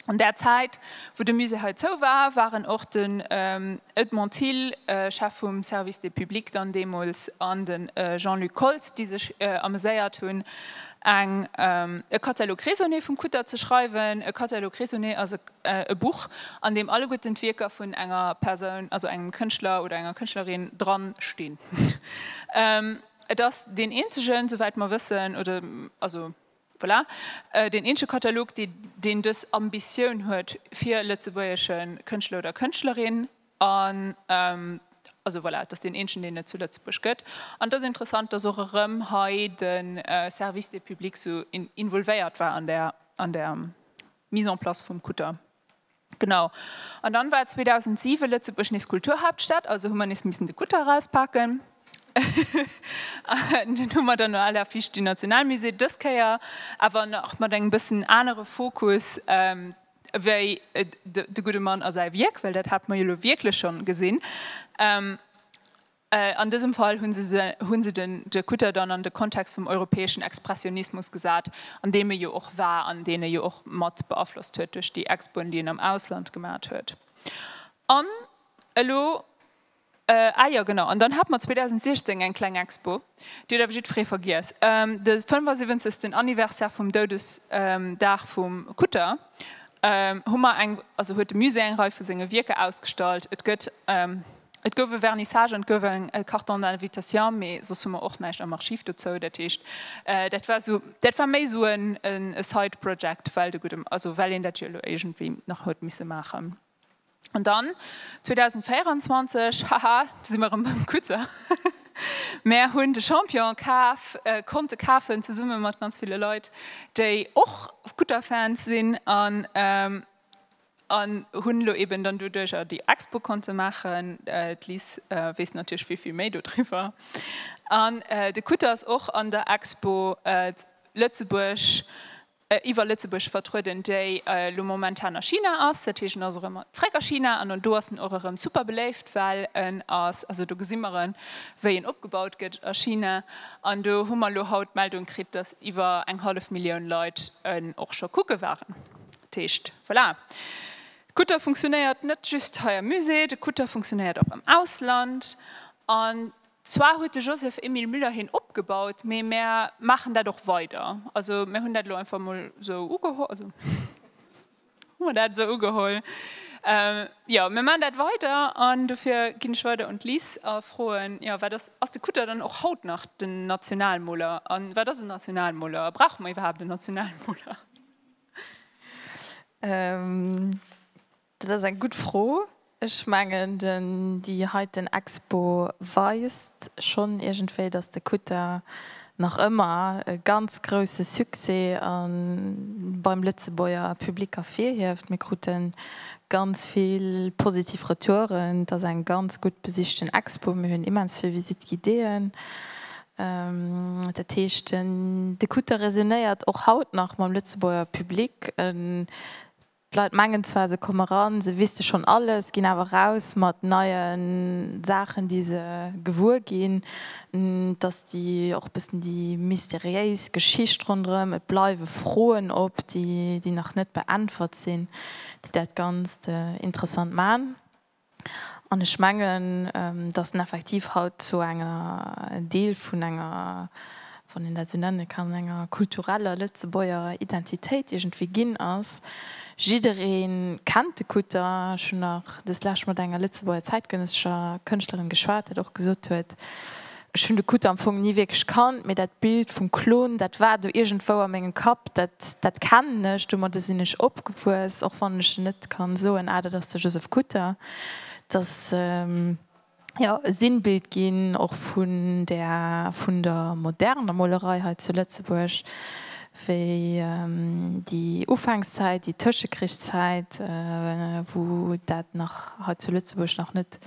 An där Zäit wou de Musée hei zou war, war en och den Edmond Thill, Chef vum Service des publics dann deemools, an de Jean-Luc Koltz, déi sech ameséiert hunn Eng, e Catalogue raisonné vum Kutter ze schreiwen. E Catalogue raisonné ass e Buch, an deem alleguerten d'Wierker vun enger Persoun, also engem Kënschtler oder enger Kënschtlerin, dran stinn. Et ass deen eenzegen, souwäit mer wëssen, oder, also, voilà, deen eenzege Catalogue, deen dës Ambitioun huet, fir lëtzebuergesche Kënschtler oder Kënschtlerin, An, also voilà, et ass deen eenzegen, deen et zu Lëtzebuerg gëtt. An et ass interessant, dass och erëm hei de Service des publics sou involvéiert war an där, an der Mise en place vum Kutter. Genau. An dann war 2007 Lëtzebuerg nees Kulturhaaptstad, also hu mer nees missen de Kutter erauspaken. An deen hu mer dann no aller Fiicht, den Nationalmusée, dës Kéier awer nach mat engem bëssen anere Fokus, wéi de gudde Mann a säi Wierk, well dat hate mer jo elo wierklech schonn gesinn. An dësem Fall hu se de Kutter dann an de Kontext vum europäeschen Expressionismus gesat, an deem e jo och war an deen e jo och mat beaflosst huet duerch déi Expoen, déi en am Ausland gemat huet. An elo. Ah jo, genau. An dann hate mer 2016 eng kleng Expo, déi huet awer jiddweree vergiess, de 75. Anniversaire vum Doudesdag vum Kutter hu mer eng, also huet de Musée eng Rei vu senge Wierker ausgestallt. Et gëtt, et gouf e Vernissage an et gouf e Carton d'invitation, mee soss hu mer och näischt am Archiv dozou. Dat heescht, dat war esou, dat war méi esou e Side-Project, well de gudde, also well een dat jo elo iergendwéi nach huet misse maachen. An dann 2024, haha, do si mer erëm beim Kutter, mär hunn de Champion kaf, konnte kafen, zesumme mat ganz ville Leit, déi och Kutter-Fans sinn, an hunn elo eben dann doduerjer déi Expo konnte maachen. D'Liz weess natierlech vill, vill méi dodriwwer. An de Kutter ass och an der Expo Lëtzebuerg iwwer Lëtzebuerg vertrueden, déi elo momentan a China ass, dat heescht en ass och ëmmer zréck a China an do ass en och erëm super beléift, well en ass, also do gesi mer en, wéi en opgebaut gëtt a China an do hu mer elo haut d'Meldung kritt, datt iwwer eng hallef Millioun Leit en och scho kucke waren. Dat heescht, voilà, de Kutter funktionéiert net just hei am Musée, de Kutter funktionéiert och am Ausland an Zwar huet de Joseph Emile Müller hien opgebaut, mee mär maachen dat och weider. Also mär hunn dat elo einfach emol esou ugeholl, also hu mer dat esou ugeholl. Jo, mär maachen dat weider an dofir ginn ech weider un d'Liz a froen, jo, wat ass, ass de Kutter dann och haut nach den Nationalmoler? A wat ass en Nationalmoler? A brauche mer iwwerhaapt en Nationalmoler? Dat ass eng gutt Fro. Ech mengen den déi heiten Expo weist schonn iergendwéi, datt de Kutter nach ëmmer e ganz grousse Succès a beim Lëtzebuerger Public ervirhieft. Mir kruten ganz vill positiv Retouren. Et ass eng ganz gutt besichten Expo. Mir hunn immens vill Visite guidéeën. Dat heescht de Kutter resonéiert och haut nach mam Lëtzebuerger Public. D'Leit mengen zwar se komme ran, se wisste schonn alles, ginn awer raus mat neie Saachen déi se gewuer ginn. Et ass déi och e bëssen déi mysteriéis Geschicht ronderëm, et bleiwe Froen op, déi nach net beäntwert sinn, déi dat Ganzt interessant man. An ech mengen, datt en effektiv haut zu enger Deel vun enger, wann een dat esou nenne kann, enger kultureller Lëtzebuerger Identitéit iergendwéi ginn ass. Jidderee kennt de Kutter. Ech hunn nach deslescht mat enger Lëtzebuerger zäitgenëssescher Kënschtlerin geschwat, dat och gesot huet, Ech hunn de Kutt am Fong ni wierklech kannt, mee dat Bild vum Klon, dat war do iergendwou a mengem Kapp. Dat kennen ech, domadder sinn ech opgewuess, och wann ech net ka soen, ah, dat ass de Joseph Kutter. Et ass, jo, e Sinnbild ginn och vun där, vun der moderner Molerei hei zu Lëtzebuerg, wéi déi Ufankszäit, déi Tëschekrichszäit, wou dat nach hei zu Lëtzebuerg nach net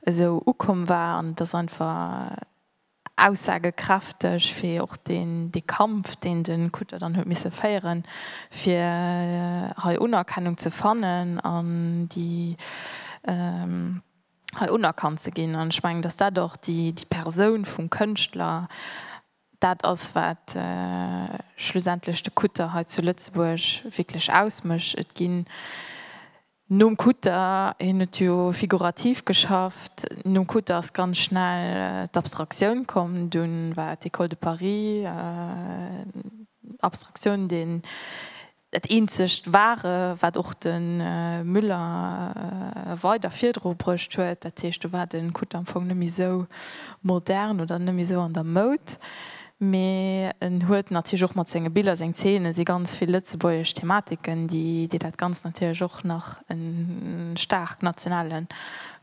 esou ukomm war. An et ass einfach aussagekräfteg fir och deen, dee Kampf, deen de Kutter dann huet misse féieren, fir hei Unerkennung ze fannen an déi hei unerkannt ze ginn. An ech mengen, datt dat och déi, déi Persoun vum Kënschtler, dat ass, wat schlussendlech de Kutter hei zu Lëtzebuerg wierklech ausmécht. Et ginn Nom Kutter, hien huet jo figurativ geschafft, nom Kutter ass ganz schnell d'Abstraktioun komm. Dunn war d'Ecole de Paris, Abstraktioun, deen, dat eenzegt Wahre wat och de Müller weider virdru bruecht huet. Dat heescht, do war de Kutter am Fong net méi esou modern oder net méi esou an der Moud. Mee en huet natierlech och mat senge Biller, seng Zeene si ganz vill lëtzebuergesch Thematiken, déi déi dat Ganzt natierlech och nach e staark nationale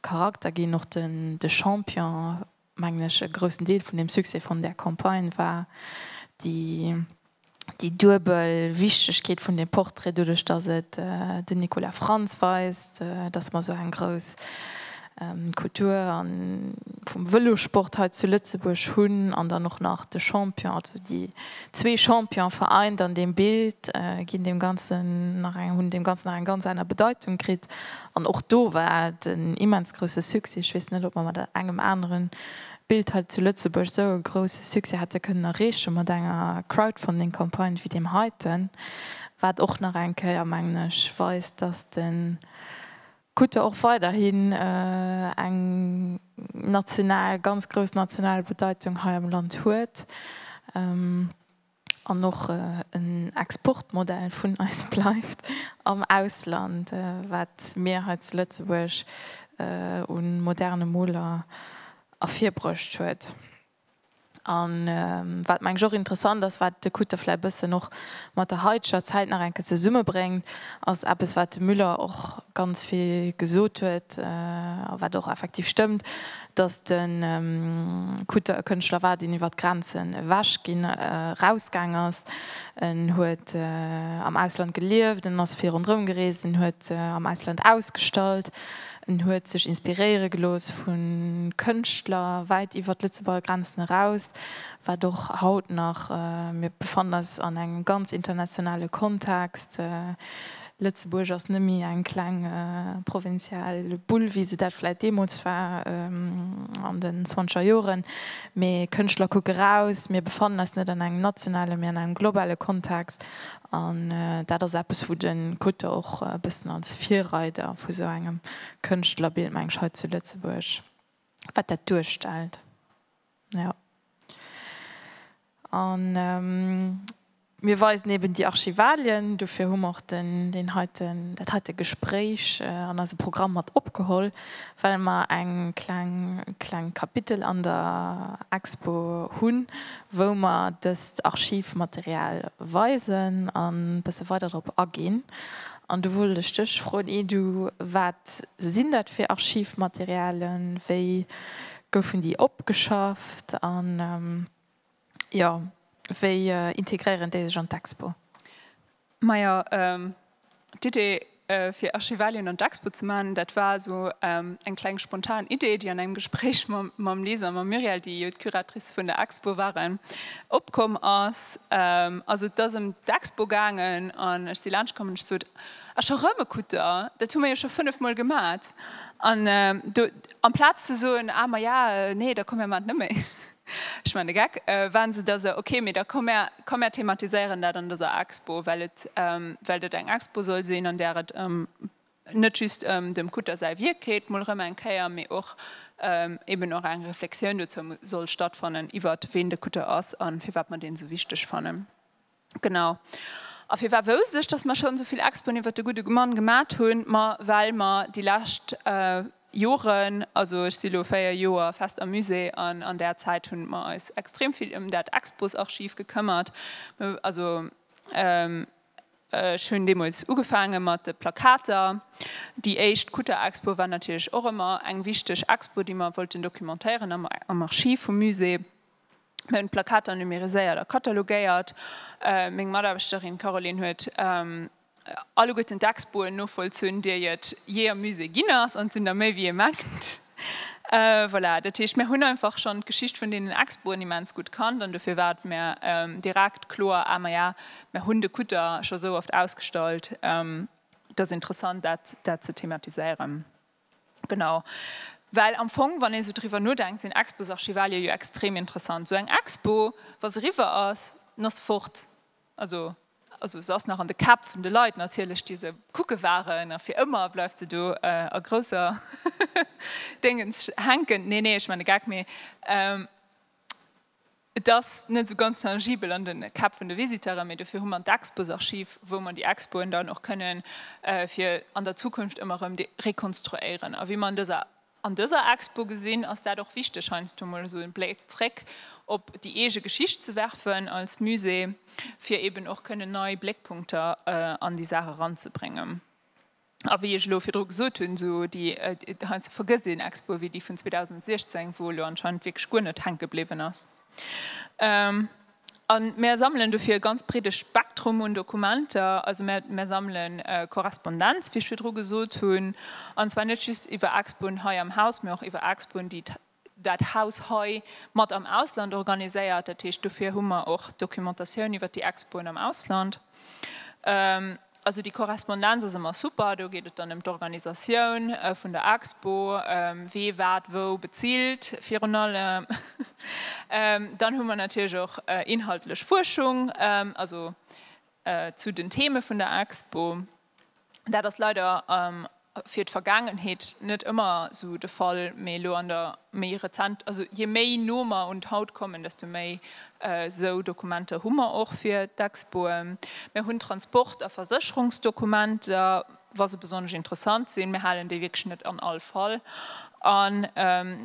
Charakter ginn. Och de Champion, mengen ech, e groussen Deel vun dem Succès vun där Campagne war déi déi duebel Wichtegkeet vun deem Portrait, doduerch datt et den Nicolas Frantz weist, datt mer esou eng grouss Kultur a vum Vëlosport hei zu Lëtzebuerg hunn an dann och nach de Champion, also déi zwee Champione vereint an deem Bild, ginn deem Ganzen nach eng, hunn deem Ganzen nach eng ganz aner Bedeitung kritt. An och do war et en immens grousse Succès. Ech weess net, ob mer mat engem aneren Bild hei zu Lëtzebuerg esou e grousse Succès hätte kënnen erreechen, mat enger Crowdfunding-Campagne wéi deem heiten. Wat och nach eng Kéier, mengen ech, weist, dass de Krut der och weiderhin eng national, ganz grouss national Bedeitung hei am Land huet an och en Exportmodell vun eis bleift am Ausland, wat mir hei zu Lëtzebuerg u moderne Moler ervirbruecht huet. A wat mengen ech och interessant ass, wat de Kutte vläicht e bëssen och mat der haiteger Zäit nach eng Kéier zesummebréngt, ass eppes, wat de Müller och ganz vill gesot huet a wat och effektiv stëmmt, datt de Kutte e Kënschtler war, deen iwwer d'Grenzen ewech ginn, erausgaang ass. En huet am Ausland gelieft, en ass vill ronderëm gereest, en huet am Ausland ausgestallt. En huet sech inspiréiere gelooss vu Kënschtler wäit iwwer d'Lëtzebuerger Grenzen eraus, wat och haut nach, mir befannen eis an engem ganz internationale Kontext, Lëtzebuerg ass net méi eng kleng provinzial Bull, wéi se dat vläicht deemools war an den zwanzeger Joren, mee Kënschtler kucke raus, mir befannen eis net an engem nationale mee an engem globale Kontext An dat ass eppes, wou de Kutter och e bëssen als Virreider vu sou engem Kënschtlerbild, meng ech, hei zu Lëtzebuerg, wat dat duerstellt. Jo. A mir weisen eben déi Archivalien. Dofir hu mer och den, deen heiten, dat heite Gespréich an eise Programm mat opgeholl, well mer eng kleng kleng Kapitel an der Expo hunn, wou mer dëst Archivmaterial weisen an e bësse weider drop aginn. An do wollt ech dech froen, Edu, wat sinn dat fir Archivmaterialen, wéi goufen déi opgeschafft an Jo, wéi integréieren déi sech an d'Expo? Majo, d'Idee fir Archivalien an d'Expo ze man, dat war esou eng kleng spontan Idee, déi an engem Gespréich mam Lise a mam Muriel, déi jo d'Curatrice vun der Expo waren, opkomm ass. Also et ass ëm d'Expo gaangen an ech si laanscht komm an ech sot, A scho rëm e Kutter? Dat hu mer jo scho fënnef Mol gemat. An do amplaz ze soen, A maja, nee, da komme mer mat net méi. Ech man de Geck, Wa se da se, okay, mee da komm mär, komm mär thematiséieren dat an dëser Expo, well et, well et eng Expo soll sinn, an där et ëm, net just ëm dem Kutter säi Wierk geet, mol erëm eng Kéier, mee och eben och eng Reflexioun dozou soll stattfannen, iwwert ween de Kutter ass a firwat mer deen esou wichteg fannen. Genau. A firwat wousst ech, dass mer schonn esou vill Expoen iwwert de gudde Mann gemat hunn? Ma well mer déi lescht Joren, also ech si lo véier Joer fest am Musée, an an där Zäit hu mer eis extrem vill ëm dat Exposarchiv gekëmmert. Also ech hunn deemools ugefaange mat de Plakater. Déi éischt Kutter-Expo war natierlech och ëmmer eng wichteg Expo, déi mer wollten documentéieren am Archiv vum Musée. Mir hunn d'Plakater numeriséiert a katalogéiert. Meng Mataarbechterin d'Caroline huet alleguerten d'Expoen novollzunn, déi et jee am Musée ginn ass, an et sinn der méi wéi ee mengt. Voilà, dat heescht, mir hunn einfach schonn d'Geschicht vun deenen Expoen immens gutt kannt an dofir war et mir direkt kloer, Ah, maja, mir hunn de Kutter scho sou oft ausgestallt, et ass interessant, dat ze thematiséieren. Genau. Well am Fong, wann ee sou driwwer nodenkt, sinn Expos-Archivalië jo extrem interessant. Sou eng Expo, wa se riwwer ass, dann ass se fort. Also, also se ass nach an de Käpp vun de Leit natierlech, déi se kucke waren, a fir ëmmer bleift se do a grousser Déngens hänken. Nee, nee, ech maachen e Gag. Mee. Et ass net esou ganz tangibel an de Käpp vun de Visiteuren, mee dofir hu mer d'Exposarchiv, wou mer déi Expoen dann och kënnen fir an der Zukunft ëmmer erëm rekonstruéieren. A wéi mer an dëser an dëser Expo gesinn, ass dat och wichteg, heiansdo mol esou e Bléck zréck op déi eege Geschicht ze werfen als Musée, fir eeben och kënnen nei Bléckpunkter an déi Saach eranzebréngen. A wéi ech elo virdru gesot hunn, esou déi, heiansdo vergësst een Expo wéi déi vun 2016, wou elo anscheinend wierklech guer net hänke bliwwen ass. A mär sammelen dofir e ganz breede Spektrum un Dokumenter. Also mär sammele Korrespondenz, wéi ech virdru gesot hunn, an zwar net just iwwer Expoen hei am Haus, mee och iwwer Expoen, déi dat Haus hei mat am Ausland organiséiert, dat heescht dofir hu mer och Dokumentatioun iwwert déi Expoen am Ausland. Also déi Korrespondenz ass ëmmer super, do geet et dann ëm d'Organisatioun vun der Expo, wee wat wou bezilt virun allem. Dann hu mer natierlech och inhaltlech Fuerschung, also zu den Theme vun der Expo. Dat ass leider fir d'Vergaangenheet net ëmmer esou de Fall, mee elo an der méi rezent, also jee méi no mer un d'Haut kommen, desto méi esou Dokumenter hu mer och fir d'Expoe. Mir hunn Transport a Versécherungsdokumenter, wa se besonnesch interessant sinn. Mir halen déi wierklech net an all Fall. An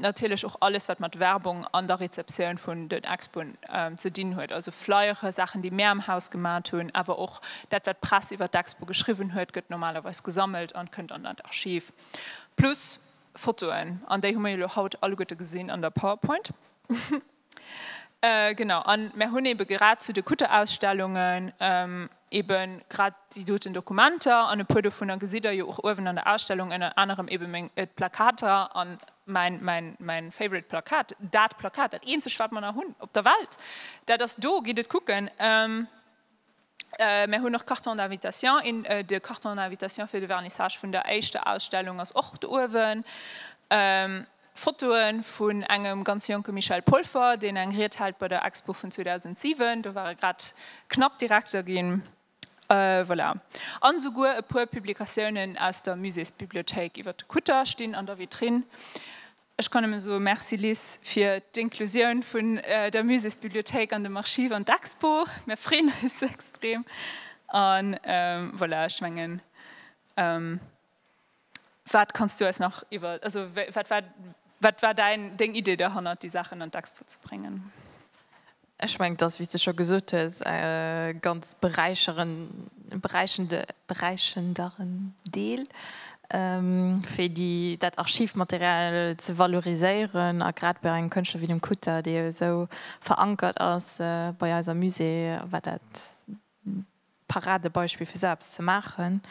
natierlech och alles, wat mat Werbung an der Rezeptioun vun den Expoen ze dinn huet, also Flyere, Saachen, déi mär am Haus gemat hunn, awer och dat, wat d'Press iwwer d'Expo geschriwwen huet, gëtt normalerweis gesammelt an kënnt an dat Archiv, plus Fotoen, an déi hu mir jo elo haut alleguerte gesinn an der Powerpoint. Genau, a mer hunn eebe grad zu de Kutterausstellungen eebe grad déi doten Dokumenter an e puer dovunner gesitt Der jo och uewen an der Ausstellung, ënner anerem eebe meng Plakater a mäin, mäin, mäin favorite Plakat, dat Plakat, dat eenzegt wat mer nach hunn op der Welt, dat ass do, gitt et kucken. Mär hunn och Cartons d'invitation. Een de Carton d'invitation fir de Vernissage vun der éischter Ausstellung ass och do uewen. Fotoen vun engem ganz jonke Michel Polfer, deen eng Ried hält bei der Expo vun 2007. Do war e grad knapp Direkter ginn. Voilà. An esouguer e puer Publikatiounen aus der Muséesbibliothéik iwwert de Kutter stinn an der Vitrine. Ech kann nëmme soe Merci, Liz, fir d'Inklusioun vun der Muséesbibliothéik an dem Archiv an d'Expo. Mir freeën eis extrem. An voilà, ech mengen, wat kanns du eis nach iwwer, also wat war, wat war däin, deng Idee derhannert, déi Saachen an d'Expo ze bréngen? Ech mengen, et ass, wéi s de scho gesot hues, e ganz beräichenderen Deel, fir dat Archivmaterial ze valoriséieren. A grad bei engem Kënschtler wéi dem Kutter, dee jo esou verankert ass bei eiser Musée, war dat, Paradebeispill fir esou eppes ze maachen,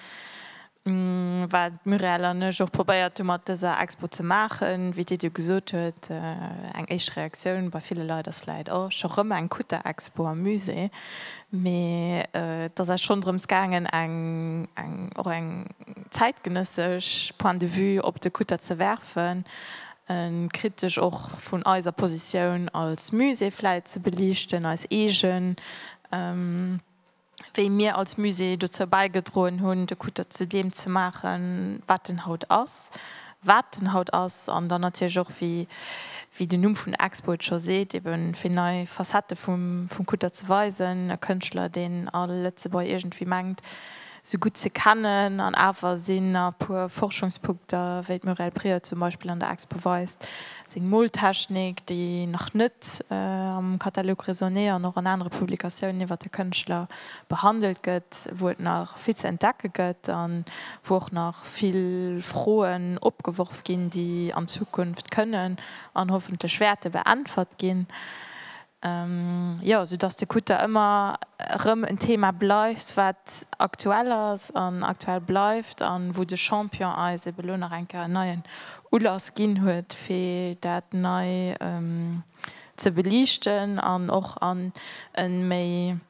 wat d'Muriel an ech och probéiert hu mat dëser Expo ze maachen. Wéi d'Edu gesot huet, eng éischt Reaktioun bei ville Leit ass vläicht, oh, scho rëm eng Kutter-Expo am Musée. Mee et ass eis schonn drëms gaangen, eng, och eng zäitgenëssesch Point de vue op de Kutter ze werfen, e kritesch och vun eiser Positioun als Musée vläicht ze beliichten, eis eegen wéi mir als Musée dozou bäigedroen hunn, de Kutter zu deem ze maachen, wat en haut ass, wat en haut ass, an dann natierlech och, wéi den Numm vun der Expo et scho seet, ebe fir nei Facettë vum Kutter ze weisen, e Kënschtler, deen all Lëtzebuerger iergendwéi mengt, sou gutt ze kennen an awer sinn a puer Forschungspunkter, wéi d'Muriel Prieur zum Beispill an der Expo weist, seng Moltechnik, déi nach net am Catalogue raisonné an och an anere Publikatiounen iwwer de Kënschtler behandelt gëtt, wou et nach vill ze entdecke gëtt a wou och nach vill Froen opgeworf ginn, déi an Zukunft kënnen an hoffentlech wäerte beäntwert ginn. Jo, sou dass de Kutter ëmmer erëm en Thema bleift, wat aktuell ass an aktuell bleift a wou de Champion eis ebe lo nach eng Kéier en neien Ulass ginn huet, fir dat nei ze beliichten an och an e méi,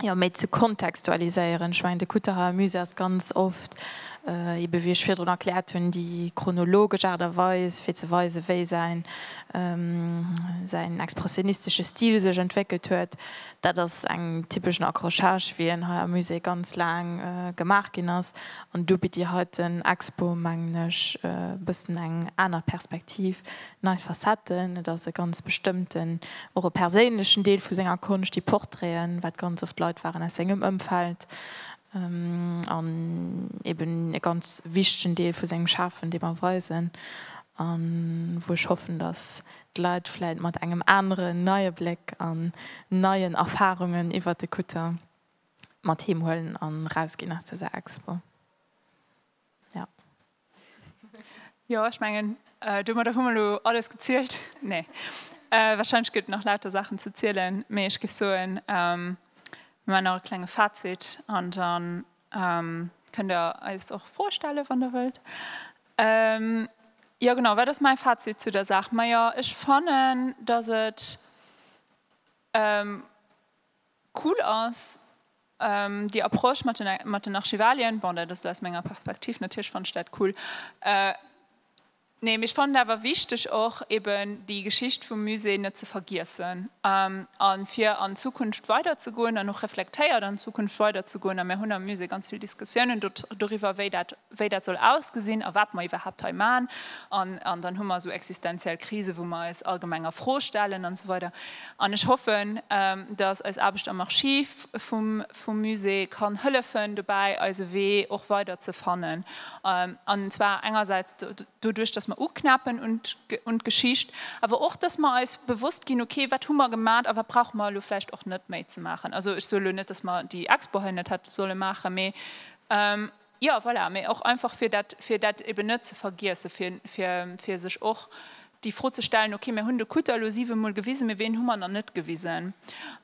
Jo, méi ze kontextualiséieren, ech mengen, de Kutteraer Musée ass ganz oft ebe wéi ech virdrun erkläert hunn, déi chronologesch Aart a Weis fir ze weisen, wéi säin säin expressionistesche Stil sech entwéckelt huet. Dat ass eng typeschen Accrochage, wéi en hei am Musée ganz laang gemaach ginn ass. An do bitt déi heiten Expo, mengen ech, e bëssen eng aner Perspektiv. Nei Facetten, et ass e ganz bestëmmten, och e perséinlechen Deel vu senger Konscht, déi Portraiten, wat ganz oft Leit waren aus sengem Ëmfeld, an eben e ganz wichtegen Deel vu sengem Schafen, dee mer weisen, a wou ech hoffen, datt d'Leit vläicht mat engem aneren, neie Bléck an neien Erfarungen iwwert de Kutter mat heem huelen an erausginn aus dëser Expo. Ja. Jo, ech mengen, äh, domadder hu mer lo alles gezielt. Nee. Äh, wahrscheinlech gëtt nach lauter Saachen ze zielen, mee ech géif soen, ähm, mir maachen nach e klenge Fazit an dann ähm, kënnt Der eis och Froe stellen, wann Der wëllt. Ähm, jo genau, wat ass mäi Fazit zu der Saach? Majo, ech fannen, dass et, ähm, Cool ass déi Approche mat den mat den Archivalien. Bon, dat ass elo aus menger Perspektiv, natierlech fannt ech dat cool. Nee, mee ech fannen et awer wichteg och eben déi Geschicht vum Musée net ze vergiessen a fir an d'Zukunft weider ze goen an och reflektéiert an d'Zukunft weider ze goen. A mir hunn am Musée ganz vill Diskussiounen doriwwer, wéi dat wéi dat soll ausgesinn a wat mer iwwerhaapt hei man, an dann hu mer esou existenziell Krisen, wou mer eis allgemeng a Fro stellen an esou weider. An ech hoffen, datt eis Aarbecht am Archiv vum Musée kann hëllefen dobäi, eise Wee och weider ze fannen, an zwar engersäits doduerch, datt mer uknapen un d'Geschicht, awer och, datt mer eis bewosst ginn, ok, wat hu mer gemat a wat brauche mer elo vläicht och net méi ze maachen. Also ech soen elo net, datt mer déi Expo hei net hätte solle maachen, mee. Jo, voilà, mee och einfach fir dat, fir dat eben net ze vergiessen, fir, fir, fir sech och déi Fro ze stellen, okay, mir hunn de Kutter elo siwe Mol gewisen, mee ween hu mer nach net gewisen?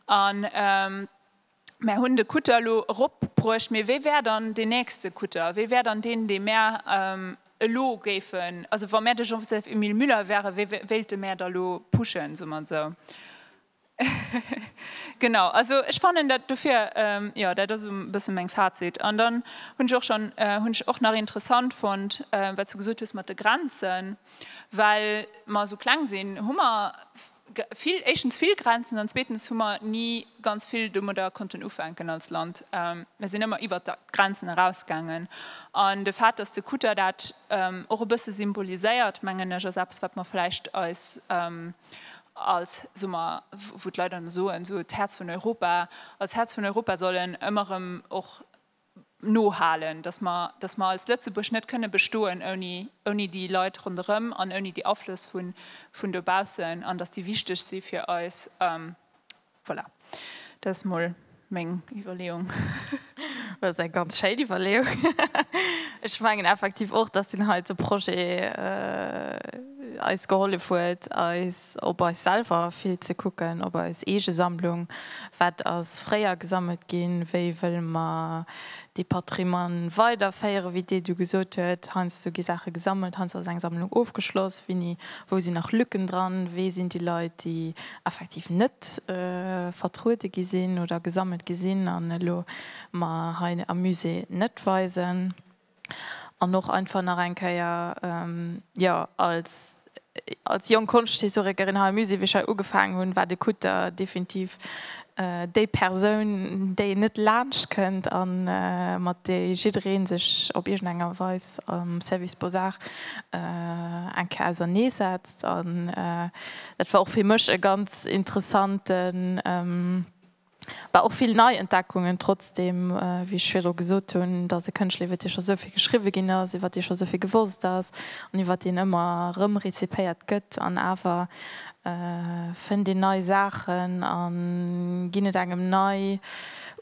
An mär hunn de Kutter elo eropbruecht, mee wee wär dann deen nächste Kutter? Wee wär dann deen, dee mär elo géifen, also wa mär de Joseph-Emile Müller wären, wee wéilte mär da elo pushen, soe mer esou? Genau, also ech fannen dat dofir, jo, dat ass e bësse mäin Fazit. An dann hunn ech och schonn, hunn ech och nach interessant fonnt, wat s de gesot hues mat de Grenzen, well mer esou kleng sinn, hu mer vill, éischtens vill Grenzen an zweetens hu mer ni ganz vill domadder konnten ufänken als Land. Mir sinn ëmmer iwwert d'Grenzen erausgaangen. An de Fait, datt de Kutter dat och e bësse symboliséiert, mengen ech, ass eppes, wat mer vläicht eis als, soe mer, wou d'Leit dann soen, esou d'Häerz vun Europa, als Häerz vun Europa sollen ëmmer erëm och no halen, datt mer, datt mer als Lëtzebuerg net kënne bestoen ouni, ouni déi Leit ronderëm an ouni déi Aflëss vun, vun dobaussen an datt déi wichteg si fir eis, Voilà, dat ass mol meng Iwwerleeung. Dat ass eng ganz schéin Iwwerleeung. Ech mengen effektiv och, dass deen heite Projet eis gehollef huet, eis op eis selwer vill ze kucken, op eis eege Sammlung, wat ass fréier gesammelt ginn, wéi wëlle mer de Patrimoine weiderféieren, wéi d'Edu gesot huet, heiansdo gi Saache gesammelt, heiansdo ass eng Sammlung ofgeschloss, wini, wou sinn nach Lücken dran, wee sinn déi Leit, déi effektiv net vertruede gi sinn oder gesammelt gi sinn an elo mer hei am Musée net weisen. An och einfach nach eng Kéier, jo, als. Als jonk Konschthistorikerin hei am Musée, wéi ech hei ugefaangen hunn, war de Kutter definitiv déi Persoun, déi net laanscht kënnt a mat där jidderee sech op iergend enger Weis am Service Beaux-Arts eng Kéier ausernee setzt. An dat war och fir mech e ganz interessanten. Bah och vill nei Entdeckungen, trotzdem wéi ech virdru gesot hunn, et ass e Kënschtler iwwer dee scho esou vill geschriwwe ginn ass, iwwer dee scho esou vill gewosst ass an iwwer deen ëmmer erëm rezipéiert gëtt an awer fënnt een nei Saachen a ginn et engem nei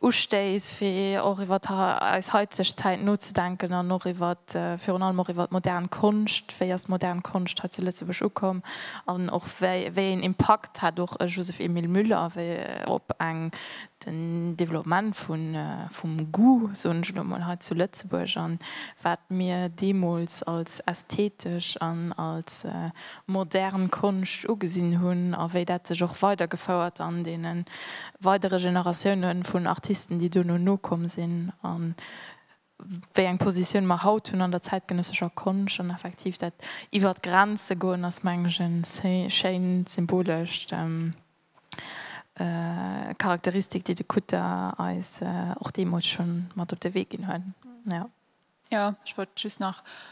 Ustéiss fir och iwwer eis heizeg Zäit nozedenken an och iwwer virun allem och iwwer d'modern Konscht, wéi ass d'modern Konscht hei zu Lëtzebuerg ukomm an och wéi een Impakt. Et hat och e Joseph-Emile Müller, wéi op eng den Développement vun, vum Goût, soen ech elo emol, hei zu Lëtzebuerg an wat mir deemools als ästhetesch an als modern Konscht ugesinn hunn a wéi dat sech och weidergefouert an deene weidere Generatioune vun Artisten, déi dono nokomm sinn. wéi eng Positioun mer haut hunn an der zäitgenëssescher Konscht. An effektiv dat iwwer d'Grenze goen ass, mengen ech, e schéin symbolescht Charakteristik, déi de Kutter eis och deemools schonn mat op de Wee ginn huet. Jo, ech wollt just nach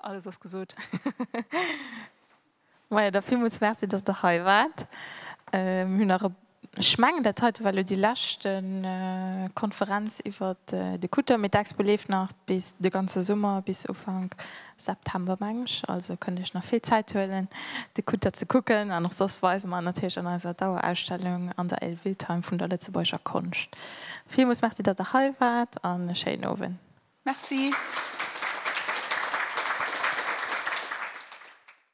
Alles ass gesot. Majo, da villmools Merci, dass Der hei waart. Mir hunn nach e, ech mengen, dat heite war elo déi lescht Konferenz iwwer de Kutter, mee d'Expo leeft nach bis de ganze Summer, bis Ufank September, meng ech. Also kënnt Iech nach vill Zäit huelen, de Kutter ze kucken. An och soss weise mer en natierlech an eiser Dauerausstellung an der Elvildheim vun der Lëtzebuerger Konscht. Villmools Merci, dass Der hei waart an e schéinen Owend. Merci.